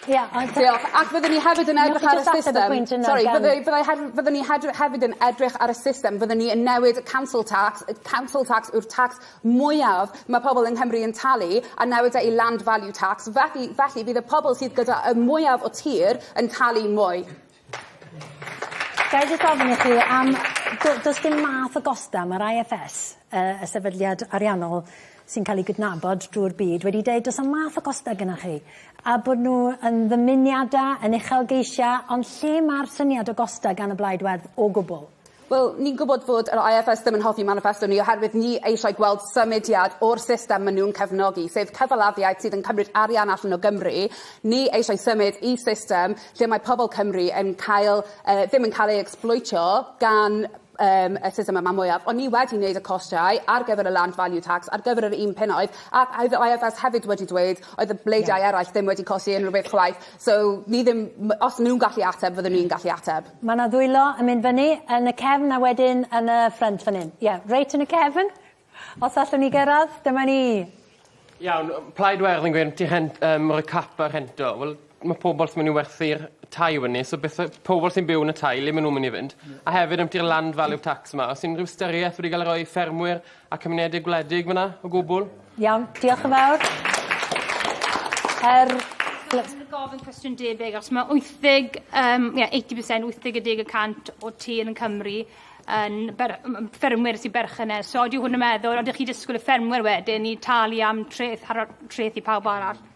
Ia ond... Diolch. Ac fyddwn ni hefyd yn edrych ar y system... Sori fyddai fyddai hef- fyddwn ni hedr- hefyd yn edrych ar y system fyddwn ni yn newid y council tax y council tax yw'r tax mwyaf ma' pobol yng Nghymru yn talu a newid e i land value tax felly felly fydd y pobol sydd gyda y mwyaf o tir yn talu mwy. Ga i jyst ofyn i chi am do- does dim math o gosta ma'r Eye Eff Es yy y sefydliad ariannol sy'n ca'l 'i gydnabod drw'r byd wedi deud do's 'na'm math o gosta gynnoch chi a bod n'w yn ddymuniada yn uchelgeisia ond lle ma'r syniad o gosta gan y blaid werdd o gwbwl? Wel, ni'n gwybod fod yr IFS ddim yn hoffi maniffesto ni oherwydd ni eisiau gweld symudiad o'r system maen nhw'n cefnogi, sef cyfalafiaid sydd yn cymryd arian allan o Gymru. Ni eisiau symud i system lle mae pobl Cymru yn cael, uh, ddim yn cael ei ecsbloetio gan um, y system yma mwyaf, ond ni wedi wneud y costiau ar gyfer y land value tax ar gyfer yr un penoedd, ac oedd yr IFS hefyd wedi dweud oedd y bleidiau yeah. eraill ddim wedi costi unrhyw beth chwaith. So ni ddim m- os ma' nw'n gallu ateb fyddwn i'n gallu ateb. Ma' 'na ddwylo yn mynd fyny yn y cefn a wedyn yn y ffrynt fan 'yn. Ie, reit yn y cefn. Os allwn ni gyrradd, dyma ni. Iawn, yym Plaid Werdd yn gweud ti rhen- yym roi cap ar rhento. Wel ma' pobol sy myn' i werthu'r tai fynny so beth yw pobol sy'n byw yn y tai le ma' nw'n myn' i fynd? A hefyd ambytu'r land value tax 'ma o's unryw ystyrieth wedi ga'l ei roi i ffermwyr A cymunedau gwledig fyna o gwbwl? Iawn, diolch yn fawr. Yr... Dwi'n gofyn cwestiwn debyg os mae 80 um, yeah, 80%, 80 y cant o tir yn Cymru yn ber, ffermwyr sy'n berchennes. So, oeddi hwn yn meddwl, oeddi chi disgwyl y ffermwyr wedyn i talu am treth, treth i pawb arall?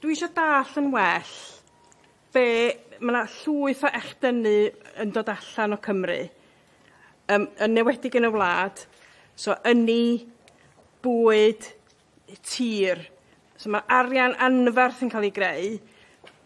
Dwi eisiau dall yn well be... Mae yna llwyth o echdynnu yn dod allan o Cymru, yn enwedig yn y wlad. So ynni, bwyd, tir. So mae arian anferth yn cael ei greu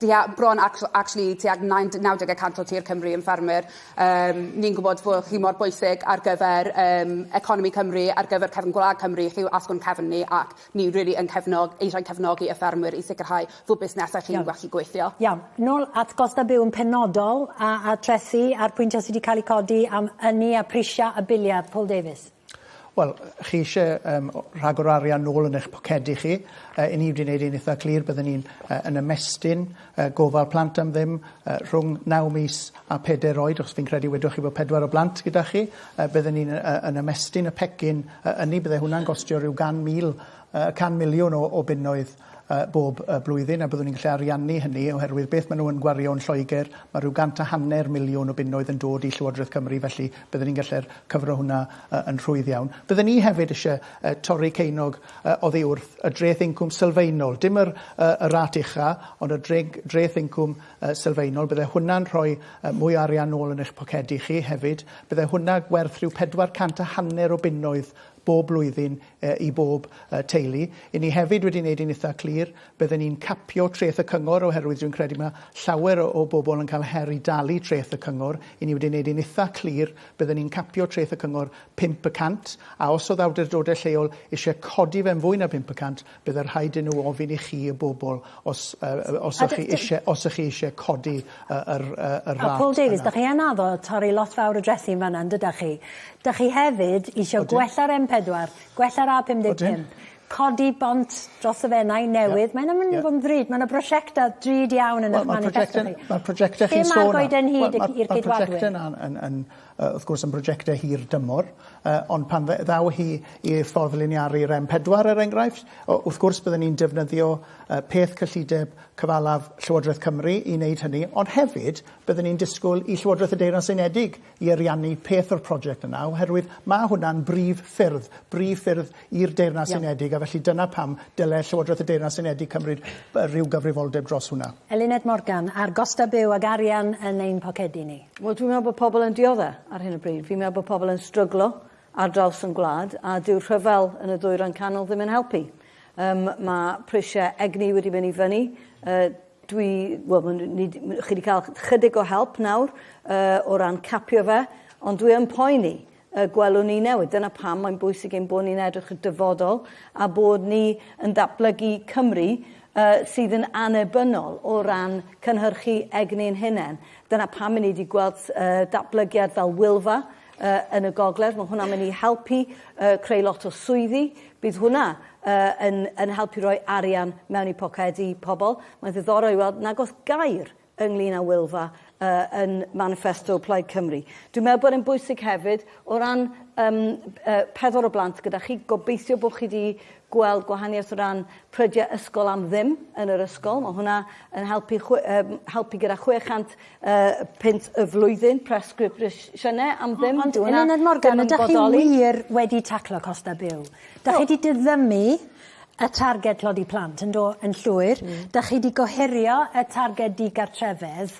Tua, bron ac- actually tua nain- 90 y cant o tir Cymru yn ffermwyr. Yym, ni'n gwybod bod chi mor bwysig ar gyfer yym economi Cymru, ar gyfer cefn gwlad Cymru, chi yw asgwrn cefn ni ac ni rili yn cefnog- eisiau cefnogi y ffermwyr i sicrhau fod busnesau chi'n gallu gweithio. Iawn, nôl at gost a byw yn penodol a a trethi a'r pwyntiau sy 'di cael eu codi am ynni a prisiau a biliau, Paul Davies. Wel, chi isie yym o- rhagor o arian nôl yn eich pocedi chi. Yy 'yn ni wedi neud e'n itha clir bydden ni'n yy yn ymestyn yy gofal plant am ddim yy rhwng naw mis a peder oed achos fi'n credu wedoch chi bo' pedwar o blant gyda chi yy bydden ni'n yy yn ymestyn y pecyn yy ynny bydde hwnna'n gostio ryw gan mil yy can miliwn o o bunnoedd bob blwyddyn, a byddwn ni'n gallu ariannu hynny, oherwydd beth maen nhw yn gwario yn Lloegr, mae rhyw gant a hanner miliwn o bunnoedd yn dod i Llywodraeth Cymru, felly bydden ni'n gallu cyfro hwnna yn rhwydd iawn. Bydden ni hefyd eisiau torri ceunog oddi wrth y dreth incwm sylfaenol, dim yr rat ucha', ond y dreth incwm sylfaenol, bydde hwnna'n rhoi mwy o arian nôl yn eich pocedi chi hefyd, bydde hwnna werth rhyw pedwar cant a hanner o bunnoedd bob blwyddyn i bob teulu. I ni hefyd wedi wneud hi'n itha clir, bydden ni'n capio treth y cyngor oherwydd dwi'n credu mae llawer o o bobl yn cael her i dalu treth y cyngor. I ni wedi wneud hi'n itha clir, bydden ni'n capio treth y cyngor pump y cant, a os oedd awdurdodau lleol eisiau codi fe'n fwy na pump y cant, Bydd yn rhaid i nhw ofyn i chi, y bobl, os ych chi eisiau, os ych chi eisiau codi yr rat yna. Paul Davies, dach chi yn addo torri lot fawr o drethi yn fan'na, yn dydach chi? Dach chi hefyd eisiau gwella'r M4, gwella'r A55, codi bont dros y Fenai newydd, mae hynna'n mynd i fod yn ddrud, mae yna brosiectau drud iawn yn eich maniffesto chi. Mae'r prosiectau chi'n sôn am, mae'r prosiectau yna yn, yy wrth gwrs yn brojectau hir dymor, yy ond pan dde- ddaw hi i'r ffordd liniaru rem pedwar er enghraifft, yy wrth gwrs bydden ni'n defnyddio yy peth cyllideb cyfalaf Llywodraeth Cymru i wneud hynny, ond hefyd bydden ni'n disgwyl i Llywodraeth y Deyrnas Unedig i ariannu peth o'r project yna oherwydd ma' hwnna'n brif ffyrdd, brif ffyrdd i'r Deyrnas Unedig, a felly dyna pam dyle Llywodraeth y Deyrnas Unedig cymryd rhyw gyfrifoldeb dros hwnna. Eluned Morgan, a'r gostau byw ac arian yn ein pocedi ni. Wel, dwi'n meddwl bod pobl yn dioddef ar hyn o bryd. Fi'n meddwl bod pobl yn stryglo ar draws ein gwlad, a dyw'r rhyfel yn y Ddwyrain Canol ddim yn helpu. Yym, mae prisiau egni wedi mynd i fyny. Uh, dwi, wel, chi wedi cael chydig o help nawr uh, o ran capio fe, ond dwi yn poeni y gwelwn ni newid. Dyna pam mae'n bwysig ein bod ni'n edrych y dyfodol a bod ni yn datblygu Cymru uh, sydd yn anebynol o ran cynhyrchu egni yn hunain. Dyna pam ni wedi gweld uh, datblygiad fel Wilfa uh, yn y gogledd. Mae hwnna'n mynd i helpu uh, creu lot o swyddi. Bydd hwnna uh, yn, yn helpu roi arian mewn i pocedi pobl. Mae'n ddiddorol i weld nag oes gair ynglyn â Wylfa yn maniffesto Plaid Cymru. Dwi'n meddwl bod e'n bwysig hefyd, o ran um, uh, pedwar o blant gyda chi, gobeithio bod chi wedi gweld gwahaniaeth o ran prydiau ysgol am ddim yn yr ysgol. Mae hwnna yn helpu, chwe, um, helpu gyda 600 uh, pint y flwyddyn presgripsiynau am ddim. Ond yn Morgan, ydych chi wir wedi taclo costau byw? Da chi wedi diddymu y targed tlodi plant yn do- yn llwyr. Hmm. 'Dach chi 'di gohirio y targed digartrefedd.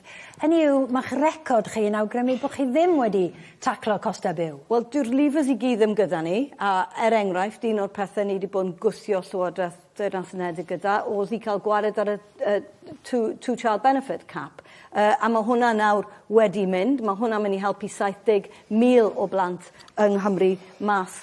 Hynny yw, ma'ch record chi yn awgrymu bo' chi ddim wedi taclo coste byw. Wel, dyw'r levers i gyd ddim gyda ni, a er enghraifft, un o'r pethe ni 'di bod yn gwthio Llywodraeth Deyrnas Unedig gyda o'dd i ca'l gwared ar y y two two child benefit cap, yy a ma' hwnna nawr wedi mynd, ma' hwnna myn' i helpu 70,000 o blant yng Nghymru mas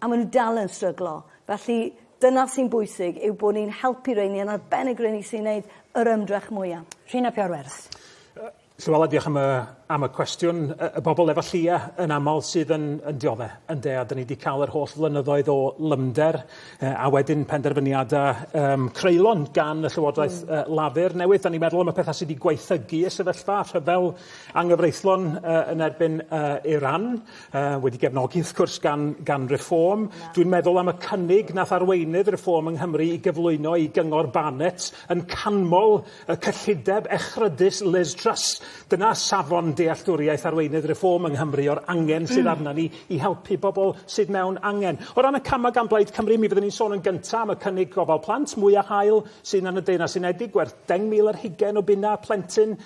A maen nhw dal yn stryglo. Felly, dyna sy'n bwysig, yw bod ni'n helpu rheini, yn arbennig rheini sy'n neud yr ymdrech mwya. Rhina Pioarwerth. Llywela, diolch am y, am y cwestiwn. Y, y bobl efo llia yn aml sydd yn, yn diodde, ynde, a dyn ni wedi cael yr holl flynyddoedd o lymder e, a wedyn penderfyniadau um, creulon gan y Llywodraeth mm. uh, Lafur newydd. Da ni'n meddwl am y pethau sydd wedi gweithygu y sefyllfa rhyfel anghyfreithlon uh, yn erbyn uh, Iran. Yy wedi gefnogi wrth cwrs gan gan Reform. Dwi'n meddwl am y cynnig nath arweinydd Reform yng Nghymru i gyflwyno i Gyngor Barnett yn canmol y cyllideb echrydus Liz Truss. Dyna safon dealltwriaeth arweinydd Reform yng Nghymru o'r angen sydd arna ni i helpu bobol sydd mewn angen. O ran y cama gan Blaid Cymru mi fyddwn ni'n sôn yn gynta am y cynnig gofal plant mwya hael sy na yn y Deyrnas Unedig werth deng mil ar hugen o bunna plentyn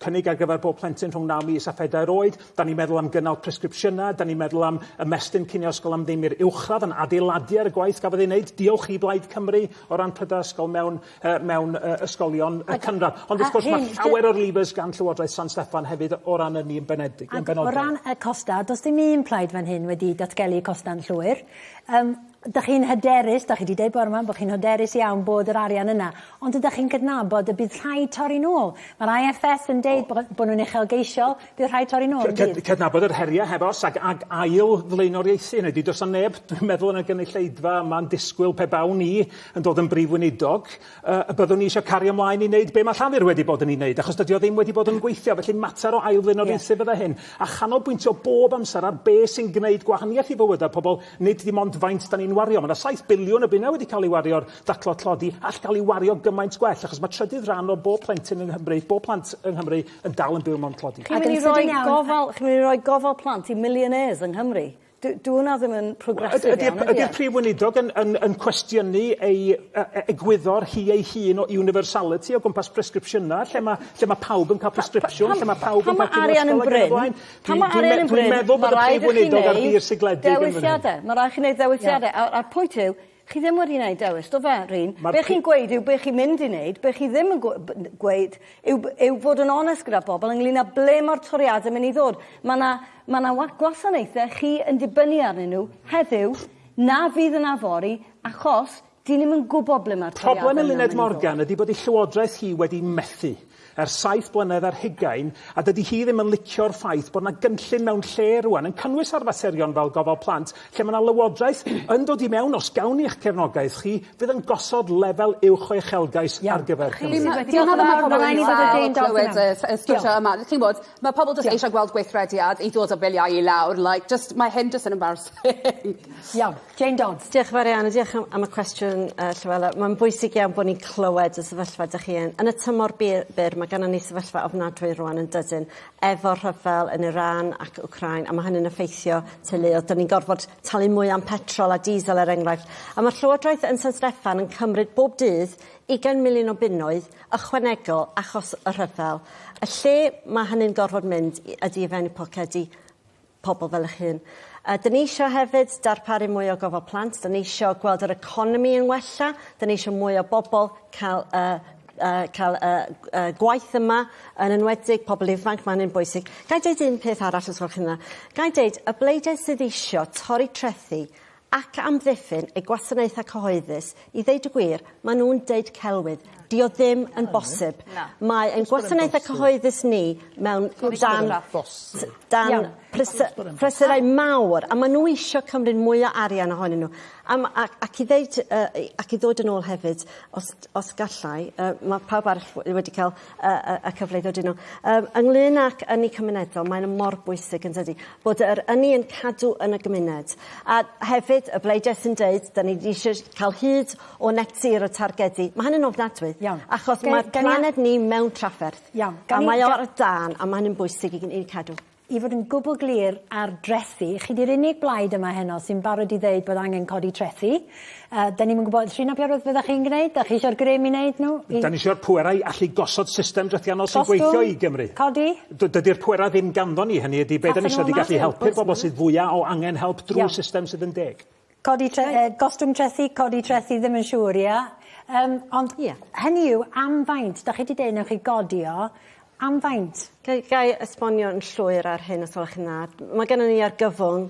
cynnig ar gyfer bob plentyn rhwng 9 mis a phedair oed. Da ni'n meddwl am gynnal presgripsiynau, da ni'n meddwl am ymestyn cinio ysgol am ddim i'r uwchradd yn adeiladu ar y gwaith gafodd ei wneud. Diolch i Blaid Cymru o ran prydau ysgol mewn, uh, mewn uh, ysgolion y cynradd. Ond wrth gwrs mae llawer o'r levers gan Llywodraeth San Steffan hefyd o ran ynni yn benedig. Yn benodol. O ran y costau, does dim un plaid fan hyn wedi datgelu costau'n llwyr. Um, Dych chi'n hyderus, dych chi 'di deud bore 'ma bod chi'n hyderus iawn bod yr arian yna, ond ydych chi'n cydnabod y bydd rhaid torri nôl? Mae'r IFS yn deud bo- bod nhw'n uchelgeisiol, bydd rhaid torri nôl, yn bydd? Cydnabod yr heriau, heb os, ac ac ail flaenoriaethu hynny. Does 'na neb, dwi'n meddwl, yn y gynulleidfa yma'n disgwyl pe bawn i yn dod yn Brif Weinidog, yy, y byddwn i eisiau cario ymlaen i wneud be mae Llafur wedi bod yn ei wneud, achos dydy o ddim wedi bod yn gweithio. Felly, mater o ail flaenoriaethu fydde hyn, a chanolbwyntio bob amser ar be sy'n gwneud gwahaniaeth i fywydau pobl, Nid dim ond faint 'da ni'n wario, ma' 'na saith biliwn o bunne wedi cael ei wario ar daclo tlodi, all gael ei wario gymaint gwell, achos mae trydydd rhan o bob plentyn yng Nghymru, bob plant yng Nghymru, yn dal yn byw mewn tlodi. Chi'n mynd i roi gofal, chi'n mynd i roi gofal plant i millionaires yng Nghymru? Dw- dyw hwnna ddim yn progressive iawn, ydy e? Ydy'r ydy'r Prif Weinidog yn yn yn cwestiynu ei yy e- egwyddor hi ei hun o universality o gwmpas presgripsiynau, lle ma' lle ma' pawb yn cael presgripsiwn, lle ma' pawb yn cael... Pan ma' arian yn brin, Pan ma' arian yn bryn, ma' raid i chi neud dewisiade. Ma' raid chi neud ddewisiade. A a'r pwynt yw, chi ddim wedi neud dewis, do fe, Rhun? Be' chi'n gweud yw be' chi'n mynd i neud, be' chi ddim yn gw- b- n- gweud yw b- yw fod yn onest gyda bobol ynglŷn â ble ma'r toriade myn' i ddod. Ma' 'na ma' 'na wa- gwasanaethe chi yn dibynnu arnyn nhw heddiw na fydd yna fory achos Dyn ni'm yn gwybod ble mae'r toriadau yna'n mynd i ddod. Problem Eluned Morgan ydy bod ei llywodraeth hi wedi methu ers saith blynedd ar hugain a dydy hi ddim yn licio'r ffaith bod 'na gynllun mewn lle rwan yn cynnwys ar faterion fel gofal plant lle mae 'na lywodraeth yn dod i mewn os gawn ni eich cefnogaeth chi fydd yn gosod lefel uwch o uchelgais ar gyfer Cymru. Diolch yn fawr mae pobl yn dal clywed y sgyrsiau yma chi'n gwybod mae pobl jyst eisiau gweld gweithrediad i ddod â biliau i lawr like jyst mae hyn jyst yn embarrassing. Iawn. Jane Dodds. Diolch yn fawr iawn a diolch am am y cwestiwn yy Llywela. Ma'n bwysig iawn bo' ni'n clywed y sefyllfa 'dych chi yn. Yn y tymor bu- byr ma' gynnon ni sefyllfa ofnadwy rŵan yndydyn efo'r rhyfel yn Iran ac Wcráin a ma' hynny'n effeithio teuluodd. 'Dyn ni'n gorfod talu mwy am petrol a diesel er enghraifft. A ma'r llywodraeth yn San Steffan yn cymryd bob dydd ugain miliwn o bunnoedd ychwanegol achos y rhyfel. Y lle ma' hynny'n gorfod mynd i ydi i fewn i pocedi pobl fel eich hun. A 'dyn ni eisiau hefyd darparu mwy o gofal plant, 'dyn ni eisiau gweld yr economi yn wella, 'dyn ni eisiau mwy o bobl cael yy yy cael yy yy gwaith yma, yn enwedig pobl ifanc, ma' hynny'n bwysig. Gai deud un peth arall os gwelwch chi'n dda? Gai deud, y bleidlais sydd eisiau torri trethi ac amddiffyn eu gwasanaethau cyhoeddus, i ddeud y gwir, maen nhw'n deud celwydd, dydy o ddim yn bosib, mae ein gwasanaethau cyhoeddus ni mewn dan dan prysurau mawr a maen nhw eisiau cymryd mwy o arian ohonyn nhw a m- a- ac i ddeud yy ac i ddod yn ôl hefyd os os gallai yy mae pawb arall wedi cael y, y, y cyfle i ddod yno. Um, ynglyn ac ynni cymunedol, mae'n mor bwysig yn dydy, bod yr ynni yn cadw yn y gymuned. A hefyd, y bleidiau sy'n dweud, da ni eisiau cael hyd o net zero targedu, mae hynny'n ofnadwy. Iawn. Achos mae planed ni mewn trafferth. Iawn. A mae o ar y dan, a mae hynny'n bwysig i ni cadw. I fod yn gwbl glir ar drethi, chi 'di'r unig blaid yma heno sy'n barod i ddeud bod angen codi trethi. Yy 'dan ni'm yn gwbod Llin ap Iorwerth be' 'dach chi'n gneud, 'dach chi isio'r grym i neud nhw i... 'Dan ni isio'r pwerau allu gosod system drethiannol sy'n gweithio i Gymru. Gostwng, codi? D- dydi'r pwerau ddim ganddon ni, hynny ydi be' 'dan ni isio ydi gallu helpu'r bobol sydd fwya' o angen help drw system sydd yn deg. Codi tre- yy gostwng trethi codi trethi ddim yn siŵr ia? Yym ond... Ia. ...hynny yw am faint 'dach chi 'di deu' newch chi godi o am faint? Ga' i ga' i esbonio yn llwyr ar hyn os gwelwch yn dda? Ma' gennon ni argyfwng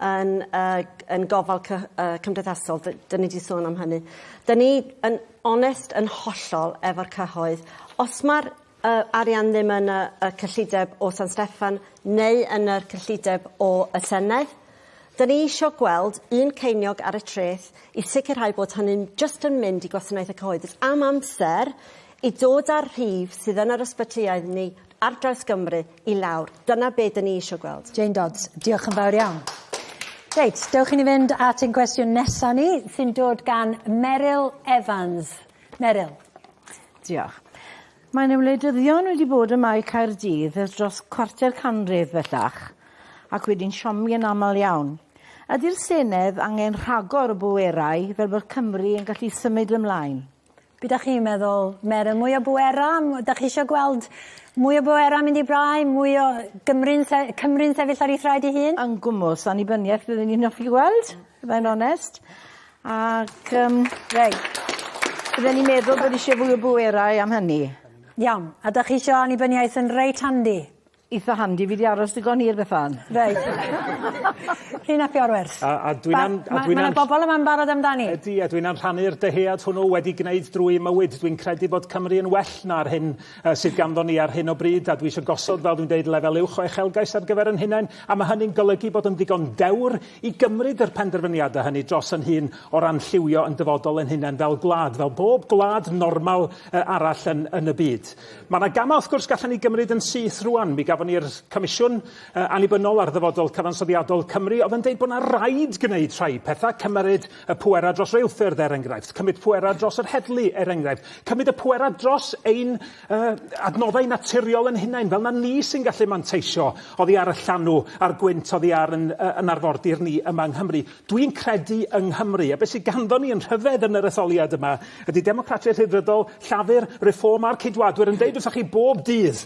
yn yy g- yn gofal cy- yy cymdeithasol 'dy- 'dyn ni 'di sôn am hynny. 'Dyn ni yn onest yn hollol efo'r cyhoedd os ma'r y arian ddim yn y y cyllideb o San Steffan neu yn yr cyllideb o y Senedd. Dyn ni isio gweld un ceiniog ar y treth i sicrhau bod hynny'n jyst yn mynd i gwasanaeth y cyhoeddus am amser i dod â'r rhif sydd yn yr ysbytyau ni ar draws Gymru i lawr. Dyna be dyn ni isio gweld. Jane Dodds, diolch yn fawr iawn. Reit, dewch i ni fynd at ein cwestiwn nesa ni, sy'n dod gan Meryl Evans. Meryl. Diolch. Mae 'na wleidyddion wedi bod ym Mae Caerdydd ers dros cwarter canrif bellach, ac wedi'n siomi yn aml iawn. Ydi'r Senedd angen rhagor o bwerau fel bod Cymru yn gallu symud ymlaen? Be dach chi'n meddwl, Meryl? Mwy o bwera? Dach chi isio gweld mwy o bwera mynd i brau? Mwy o Gymru'n se- Cymru'n sefyll ar ei thraed ei hun? Yn gwmws, annibyniaeth byddwn i'n offi gweld, i fod yn onest. Ac yym reit. Bydden i'n meddwl bod isie fwy o bwerau am hynny. Iawn, a 'dach chi isio annibyniaeth yn reit handi? Itha handi, fi 'di aros digon hir Bethan. Reit. Chi'n apio o'r wers? A a dwi'n am- a dwi'n am-... Ma' 'na bobol yma'n barod amdani. Ydi a dwi'n am rhannu'r dyhead hwnnw wedi gneud drwy 'i mywyd dwi'n credu bod Cymru yn well na'r hyn sydd ganddon ni ar hyn o bryd, a dwi eisiau gosod, fel dwi'n dweud, lefel uwch o uchelgais ar gyfer yn hunain, a mae hynny'n golygu bod yn ddigon dewr i gymryd yr penderfyniadau hynny dros yn hun o ran lliwio yn dyfodol yn hunain fel gwlad, fel bob gwlad normal arall yn, yn y byd. Mae yna gamau, wrth gwrs, gallen ni gymryd yn syth rwan. Mi gafon ni'r Comisiwn Annibynnol ar Ddyfodol Cyfansoddiadol Cymru oedd yn dweud bod yna raid gwneud rhai pethau, cymryd Y pwerau dros reilffyrdd, er enghraifft, cymryd pwerau dros yr heddlu, er enghraifft, cymryd y pwerau dros ein uh, adnoddau naturiol yn hunain, fel na ni sy'n gallu manteisio oddi ar y llanw a'r gwynt oddi ar yn, uh, yn arfordir ni yma yng Nghymru. Dwi'n credu yng Nghymru, a beth sydd ganddo ni yn rhyfedd yn yr etholiad yma ydy Democratiaid Rhyddfrydol, Llafur, Reform a'r Ceidwadwyr yn deud wrthych chi bob dydd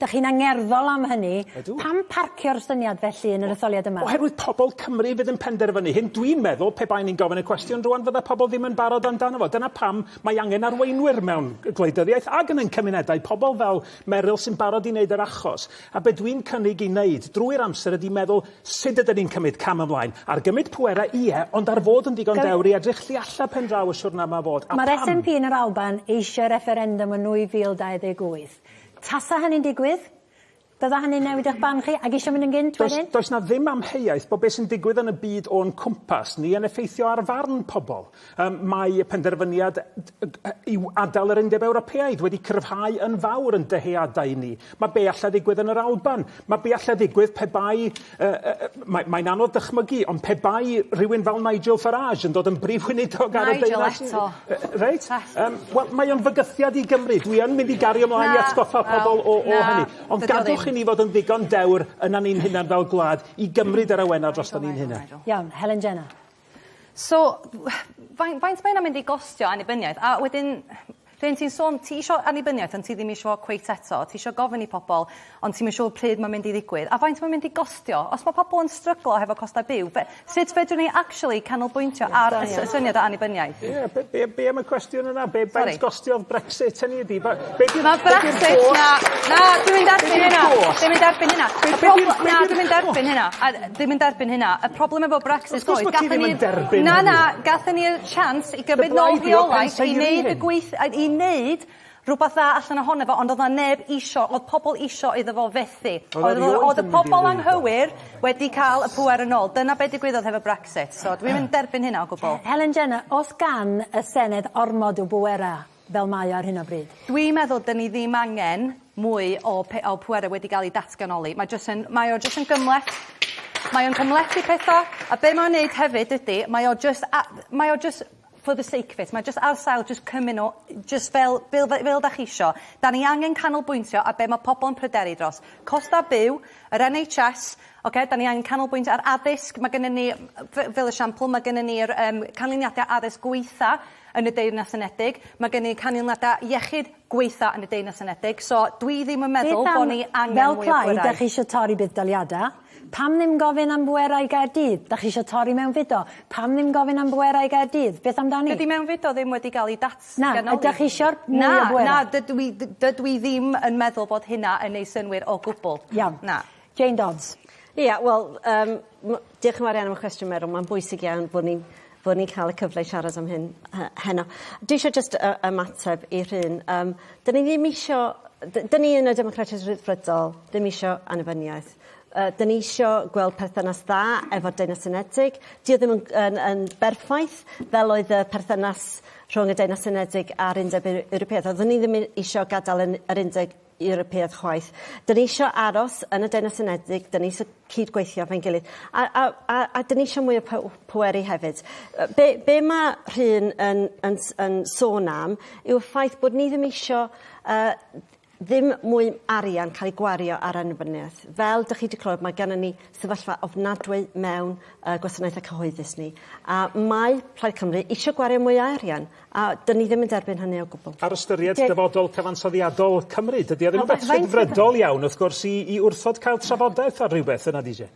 Dych chi'n angerddol am hynny. Ydw. Pam parcio'r syniad felly yn yr etholiad yma? Oherwydd pobl Cymru fydd yn penderfynu hyn. Dwi'n meddwl, pe baen i'n gofyn y cwestiwn rŵan, fydda pobl ddim yn barod amdano fo. Dyna pam mae angen arweinwyr mewn gwleidyddiaeth ac yn ein cymunedau, pobl fel Meryl sy'n barod i wneud yr achos. A be dwi'n cynnig i wneud drwy'r amser ydy meddwl sut ydyn ni'n cymryd cam ymlaen. Ar gymryd pwerau, ie, ond ar fod yn ddigon dewr i edrych tu allan pen draw y siwrna yma o fod. A pam? Mae'r SNP yn yr Alban eisiau refferendwm yn 2028. Tasa hynny'n digwydd, bydda hynny'n newid eich barn chi, ac isio mynd yn gynt wedyn? Does, does 'na ddim amheuaeth bod beth sy'n digwydd yn y byd o'n cwmpas ni yn effeithio ar farn pobl. Yym, mae y penderfyniad i adael yr Undeb Ewropeaidd wedi cryfhau yn fawr yn dyheadau ni. Mae be' allai ddigwydd yn yr Alban, mae be' allai ddigwydd pe bai Yy yy yy mae mae'n anodd dychmygu ond pe bai rhywun fel Nigel Farage yn dod yn brif weinidog ar y deyrnas... Nigel eto. Reit yym wel mae o'n fygythiad i Gymru dwi yn mynd i gario mlaen... Na. ...i atgoffa pobol o o hynny. Na. Ond gadwch i ni fod yn ddigon dewr yna ni'n hunan fel gwlad i gymryd yr awena drosto ni'n hunan. Iawn Helen Jenner. So fain- faint mae hynna'n mynd i gostio annibyniaeth? A wedyn rhywun ti'n sôn ti isio annibyniaeth ond ti ddim isio fo cweit eto ti isio gofyn i pobol ond ti'm yn siŵr pryd ma'n mynd i ddigwydd a faint ma'n mynd i gostio? Os ma' pobol yn stryglo hefo costau byw be- sut fedrwn ni actually canolbwyntio ar y s- y syniad o annibyniaeth? Ie be' be' be' am y cwestiwn yna be' faint... Sori. ...gostiodd Brexit hynny ydi ba- Mae Brexit... Na, na, dwi'n mynd erbyn hynna. Dwi'n mynd erbyn hynna. Y problem... Na, dwi'n mynd erbyn hynna. Dwi'n mynd erbyn hynna. Y problem efo Brexit oedd... Wrth gwrs bod ti ddim yn derbyn hynny. Na, na, gathen ni'r chance i gymryd nôl rheolaeth i wneud y gweith... i wneud rhywbeth dda allan ohono fo, ond oedd 'na neb isio, oedd pobl isio iddo fo fethu. Oedd y oedd y pobl anghywir wedi cael y pŵer yn ôl. Dyna be' digwyddodd hefo Brexit. So dwi'm yn derbyn hynna o gwbl. Helen Jenner, os gan y Senedd ormod o bwerau, fel mae o ar hyn o bryd. Dwi'n meddwl 'dyn ni ddim angen mwy o pe- o pwerau wedi gael eu datganoli. Mae jyst yn... Mae o jyst yn gymhleth. Mae o'n cymhlethu pethau, a be' mae o'n neud hefyd ydy, mae o jyst a- mae o jyst for the sake of it. Mae jyst ar sail jyst cymyn o jyst fel fel fe- fel 'dach chi isio. 'Dan ni angen canolbwyntio ar be' mae pobl yn pryderu dros. Costau byw, yr NHS, ocê, 'dan ni angen canolbwyntio ar addysg, ma' gynnon ni yy f- fel esiampl, ma' gynnon ni'r yym canlyniadau addysg gwaetha' yn y Deyrnas Unedig. Mae gen i canlyniadau iechyd gwaetha yn y Deyrnas Unedig, so dwi ddim yn meddwl bod ni angen mwy o bwerau. Fel plaid, ydych chi eisiau torri budd-daliadau? Pam ddim gofyn am bwerau i Gaerdydd? Ydych chi eisiau torri mewnfudo? Pam ddim gofyn am bwerau i Gaerdydd? Beth amdani? Dydy mewnfudo ddim wedi cael ei datganoli. Na, ydych chi eisiau mwy o bwerau? Na, na, dydw i ddim yn meddwl bod hynna yn ei synwyr o gwbl. Iawn. Na. Jane Dodds. Ia wel yym m- diolch yn fawr iawn am y cwestiwn Meryl ma'n bwysig iawn bod ni'n bod ni'n ca'l y cyfle i siarad am hyn he- heno. Dwi isio jyst yy ymateb i Rhun yym 'dyn ni ddim isio yy d- 'dyn ni yn y Democratiaid Rhyddfrydol ddim isio annibyniaeth yy 'dyn ni isio gweld perthynas dda efo'r Deyrnas Unedig 'di o ddim yn g- yn yn berffaith fel oedd y perthynas rhwng y Deyrnas Unedig a'r Undeb Eu- Ewropeaidd oeddwn i ddim i- isio gadal yn yr undeg Ewropeaidd chwaith. Dyn ni eisiau aros yn y Deyrnas Unedig, dyn ni eisiau cyd-gweithio efo'n gilydd, a, a, a, a dyn ni eisiau mwy o pweru hefyd. Be, be mae Rhun yn, yn, yn sôn am yw'r ffaith bod ni ddim eisiau uh, ddim mwy arian cael ei gwario ar annibyniaeth. Fel dych chi wedi clywed, mae gennym ni sefyllfa ofnadwy mewn uh, gwasanaethau cyhoeddus ni. A mae Plaid Cymru eisiau gwario mwy o arian. A 'dyn ni ddim yn derbyn hynny o gwbwl. Ar ystyried Dy- dyfodol cyfansoddiadol Cymru, dydy o ddim yn beth rhyddfrydol iawn, wrth gwrs, i i wrthod cael trafodaeth ar rywbeth, yna di je?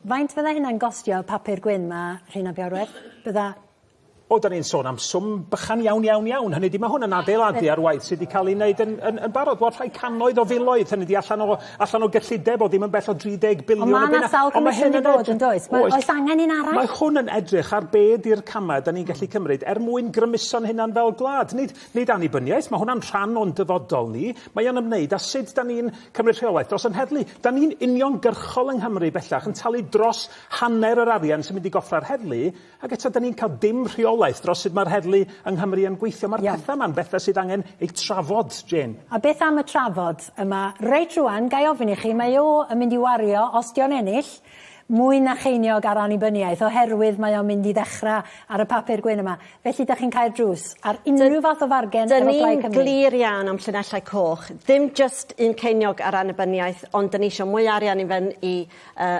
Faint fydda hynna'n gostio y papur gwyn 'ma, Rhun ap Iorwerth? Bydda... O, 'dan ni'n sôn am swm bychan iawn, iawn, iawn. Hynny ydi, ma' hwn yn adeiladu ar waith sy 'di ca'l 'i neud yn yn yn barod. Wel, rhai cannoedd o filoedd, hynny ydi, allan o allan o gyllideb o ddim yn bell o 30 biliwn o bunnoedd. Ond mae yna sawl comisiwn wedi bod, yn does? Oes. Oes angen un arall? Mae hwn yn edrych ar be ydy'r camau da ni'n gallu hmm. cymryd er mwyn grymuso'n hunan fel gwlad. Nid, nid annibyniaeth, mae hwnna'n rhan o'n dyfodol ni. Mae o'n ymwneud â sut da ni'n cymryd rheolaeth dros yn heddlu. Da ni'n uniongyrchol yng Nghymru bellach yn talu dros hanner yr arian sy'n mynd i goffra'r heddlu Ac eto, 'dan ni'n ca'l dim rheolaeth dros sut ma'r heddlu yng Nghymru yn gweithio. Ma'r petha 'ma'n betha sydd angen eu trafod, Jane. A beth am y trafod yma? Reit rŵan, ga i ofyn i chi, mae o yn mynd i wario, os 'di o'n ennill, mwy na cheiniog ar annibyniaeth, oherwydd mae o'n mynd i ddechra ar y papur gwyn yma. Felly, 'dach chi'n cau'r drws ar unrhyw fath o fargen efo Plaid Cymru? 'Dyn ni'n glir iawn am llinellau coch, ddim jyst un ceiniog ar annibyniaeth, ond 'dyn ni isio mwy o arian i fynd i yy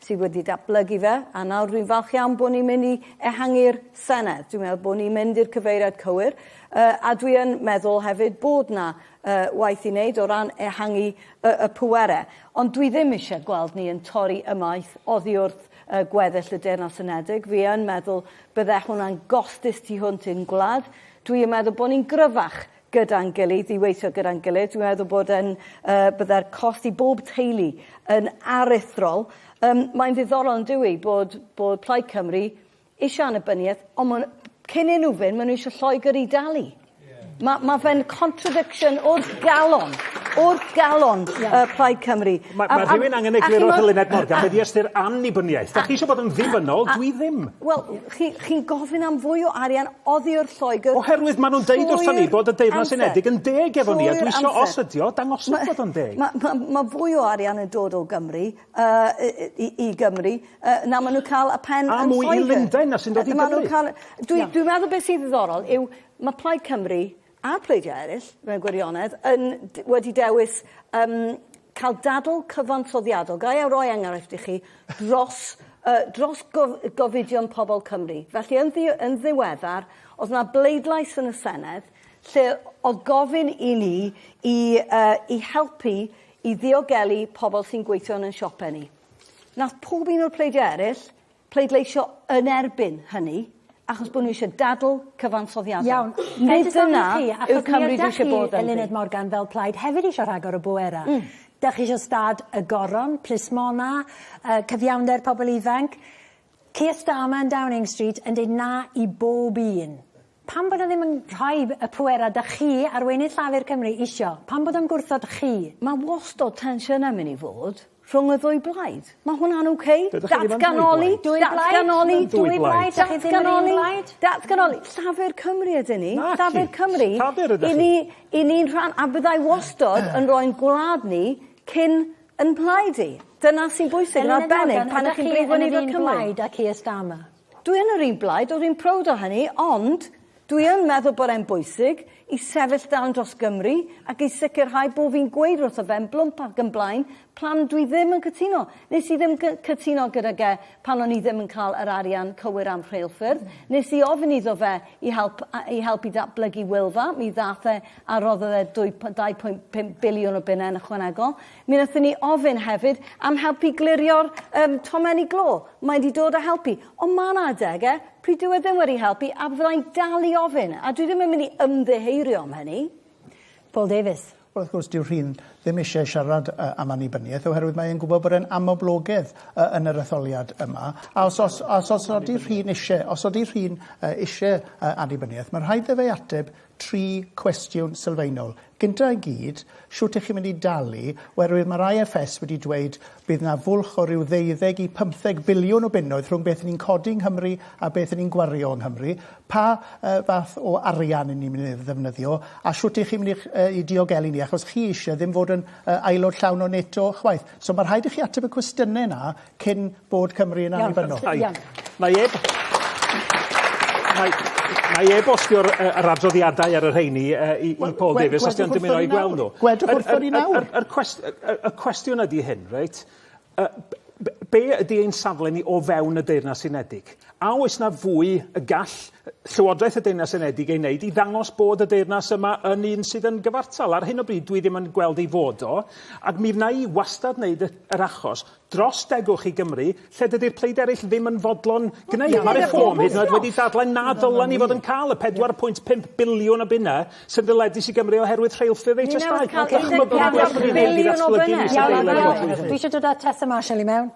sydd wedi datblygu fe, a nawr dwi'n falch iawn bod ni'n mynd i ehangu'r Senedd. Dwi'n meddwl bod ni'n mynd i'r cyfeiriad cywir, uh, a dwi yn meddwl hefyd bod na uh, waith i wneud o ran ehangu y, y pwere. Ond dwi ddim eisiau gweld ni yn torri ymaith oddi wrth uh, gweddill y Deyrnas Unedig. Fi yn meddwl bydde hwnna'n gostus tu hwnt i'n gwlad. Dwi yn meddwl bod ni'n gryfach gyda'n gilydd, i weithio gyda'n gilydd. Dwi'n meddwl bod e'n, uh, byddai'r cost i bob teulu yn aruthrol. Um, mae'n ddiddorol yn dwi bod, bod Plaid Cymru eisiau annibyniaeth, ond maen, cyn i nhw fynd, maen nhw eisiau Lloegr i dalu. Yeah. Mae ma fe'n contradiction o'r galon o'r galon yeah. uh, Plaid Cymru. Mae ma rhywun angen egluro Helena Morgan, mae di ystyr annibyniaeth. Da chi eisiau bod yn ddibynnol, dwi ddim. Wel, Chi, chi'n gofyn am fwy o arian oddi wrth Lloegr... Oherwydd maen nhw'n deud wrthon ni bod y Deyrnas Unedig yn deg efo ni, a dwi isio, os ydi o, dangoswch bod o'n deg. Mae ma, ma fwy o arian yn dod o Gymru, uh, i, i Gymru, uh, na maen nhw'n cael y pen yn Lloegr. A mwy i Lundain na sy'n dod i Gymru. Dwi, dwi'n meddwl beth sydd ddiddorol yw, mae Plaid Cymru a phleidiau eraill, mewn gwirionedd, yn wedi dewis um, cael dadl cyfansoddiadol. Gai a roi enghraifft i chi dros, uh, dros gof gofidion pobl Cymru. Felly, yn, ddi yn ddiweddar, oedd yna bleidlais yn y Senedd lle oedd gofyn i ni i, uh, i helpu i ddiogelu pobl sy'n gweithio yn ein siopau ni. Nath pob un o'r pleidiau eraill pleidleisio yn erbyn hynny, achos bod nhw eisiau dadl cyfansoddiadol. Iawn. Nid dyna yw Cymru dwi eisiau bod ynddi. Eluned Morgan fel plaid hefyd eisiau rhagor o bwerau. Mm. Dach chi eisiau stad y goron, plismona, uh, cyfiawnder pobl ifanc. Keir Starmer yn Downing Street yn dweud na i bob un. Pam bod o ddim yn rhoi y pwerau dych chi, arweinydd Llafur Cymru, isio? Pam bod o'n gwrthod chi? Mae wastod tensiynau yn mynd i fod rhwng y ddwy blaid. Mae hwnna'n ok. Datganoli, datganoli, dwy blaid, datganoli, datganoli. Llafur Cymru ydyn ni. Llafur Cymru. Llafur ydych chi. I ni'n rhan, a byddai wastod yn rhoi'n gwlad ni cyn yn mhlaid i. Dyna sy'n bwysig yn arbennig pan ydych chi'n brifwynydd Cymru. Elin a Danica, ydych chi yn yr un blaid â Keir Starmer? Dwi yn yr un blaid, o'r un prowd o hynny, ond dwi yn meddwl bod e'n bwysig i sefyll dan dros Gymru ac i sicrhau bod fi'n gweud wrtho fe yn blwmp ac yn blaen pam dwi ddim yn cytuno. Nes i ddim cytuno gyda ge pan o'n i ddim yn cael yr arian cywir am rheilffyrdd. Nes i ofyn iddo fe i help, i help i datblygu Wylfa, mi ddath e a roddodd e 2.5 biliwn o bunne yn ychwanegol. Mi wnaethon ni ofyn hefyd am helpu glirio'r um, tomenni glo. Mae wedi dod a helpu. Ond mae yna adege pryd dyw e ddim wedi helpu a fyddai'n dal i ofyn. A dwi ddim yn mynd i ymddeheirio am hynny. Paul Davies. Wel, wrth gwrs, dyw rhywun ddim eisiau siarad uh, am annibyniaeth oherwydd mae e'n gwybod bod e'n amoblogedd uh, yn yr etholiad yma. A os, os, os, os ydy rhywun eisiau, os ydy rhywun uh, eisiau uh, annibyniaeth, mae rhaid iddo fe ateb tri cwestiwn sylfaenol. Gynta i gyd, shwt ych chi'n mynd i dalu, oherwydd mae'r IFS wedi dweud bydd 'na fwlch o ryw ddeuddeg i phymtheg biliwn o bunnoedd rhwng beth 'yn ni'n codi yng Nghymru a beth 'yn ni'n gwario yng Nghymru. Pa yy fath o arian 'yn ni'n mynd i ddefnyddio, a shwt ych chi'n mynd i'ch yy i diogelu ni, achos chi eisie ddim fod yn yy aelod llawn o NATO chwaith. So ma' rhaid i chi ateb y cwestiyne 'na cyn bod Cymru yn annibynnol. Iawn, iawn. Mae e... Mae mae e-bostio'r yy yr adroddiadau ar y rheini yy i i Paul Davies os 'di o'n dymuno 'u gweld nhw. Gwedwch wrtho ni nawr. Yr yr cwest- y y y cwestiwn ydi hyn reit yy b- b- be' ydi ein safle ni o fewn y Deyrnas Unedig? A oes 'na fwy y gall yy Llywodraeth y Deyrnas Unedig ei wneud i ddangos bod y deyrnas yma yn un sydd yn gyfartal? Ar hyn o bryd dwi ddim yn gweld ei fod o ac mi wna i wastad wneud y yr achos dros degwch i Gymru, lle dydy'r pleid eraill ddim yn fodlon gwneud. Mae Reform hyd yn oed wedi dadlau na ddylen ni fod yn cael y 4.5 biliwn o bunnau sy'n ddyledus i Gymru oherwydd rheilffyrdd eu testai. Ni'n newydd cael 4.5 biliwn o bunnau! Iawn, iawn, iawn. Dwi eisiau dod â Tessa Marshall i mewn.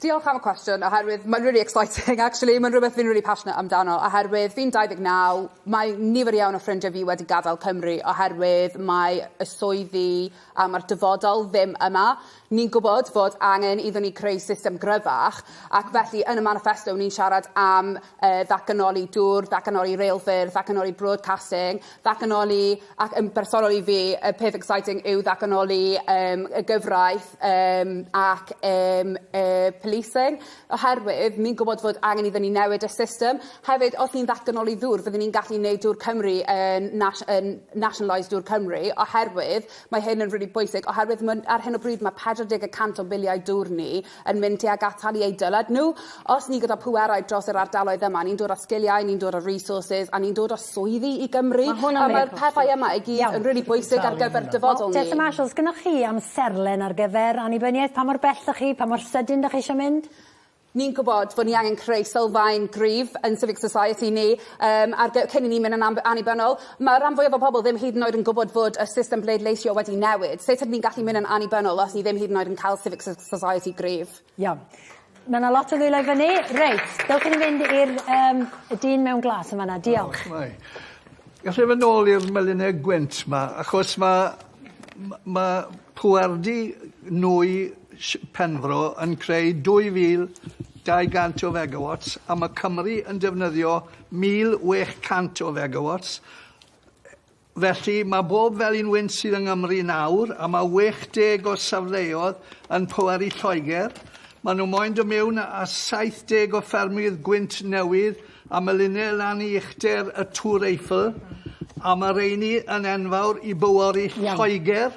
Diolch am y cwestiwn, oherwydd mae'n really exciting actually, mae'n rhywbeth fi'n really passionate amdano, oherwydd fi'n 29, mae nifer iawn o ffrindiau fi wedi gadael Cymru oherwydd mae y swyddi a mae'r dyfodol ddim yma. Ni'n gwybod fod angen iddon ni creu system gryfach ac felly yn y maniffesto ni'n siarad am yy ddatganoli dŵr, ddatganoli reilffyrdd, ddatganoli broadcasting, ddatganoli, ac yn bersonol i fi y peth exciting yw ddatganoli yym y gyfraith yym ac yym y policing oherwydd ni'n gwybod fod angen iddon ni newid y system. Hefyd os ni'n ddatganoli ddŵr fyddwn ni'n gallu neud dŵr Cymru yn nas- yn nationalised dŵr Cymru oherwydd Mae hyn yn rili bwysig oherwydd ma', ar hyn o bryd ma' 40 y cant o filiau dŵr ni yn mynd tuag at talu eu dyled nhw. Os ni gyda phwerau dros yr ardaloedd yma, ni'n dod â sgiliau, ni'n dod â resources, a ni'n dod â swyddi i Gymru. Ma' hwn yn rili pwysig. A ma'r pethau yma i gyd yn rili bwysig ar gyfer dyfodol ni. Tessa Marshall, os gynnoch chi amserlen ar gyfer annibyniaeth, pa mor bell 'dach chi, pa mor sydyn 'dach chi isio mynd? Ni'n gwybod bod ni angen creu sylfaen gryf yn civic society ni um, ar gy- cyn i ni mynd yn annibynnol. Mae rhan fwyaf o bobl ddim hyd yn oed yn gwybod fod y system bleidleisio wedi newid. Sut ydyn ni'n gallu mynd yn annibynnol os ni ddim hyd yn oed yn cael civic society gryf? Iawn. Mae yna lot o ddwylo i fyny. Reit, dewch i ni fynd i'r um, y dyn mewn glas yn fanna. Diolch. Oh, right. Gallai fy nôl i'r melynau gwynt ma, achos mae ma, ma pwardi nwy Penfro yn creu 2,200 o fegawats a mae Cymru yn defnyddio 1,600 o fegawats. Felly, mae bob felin wynt sydd yng Nghymru nawr, a mae 60 o safleoedd yn pwerau Lloegr, maen nhw moyn dod mewn a 70 o ffermydd gwynt newydd a melinau lan i uchder y Tŵr Eiffel, a mae rheiny yn enfawr i bywori Lloegr.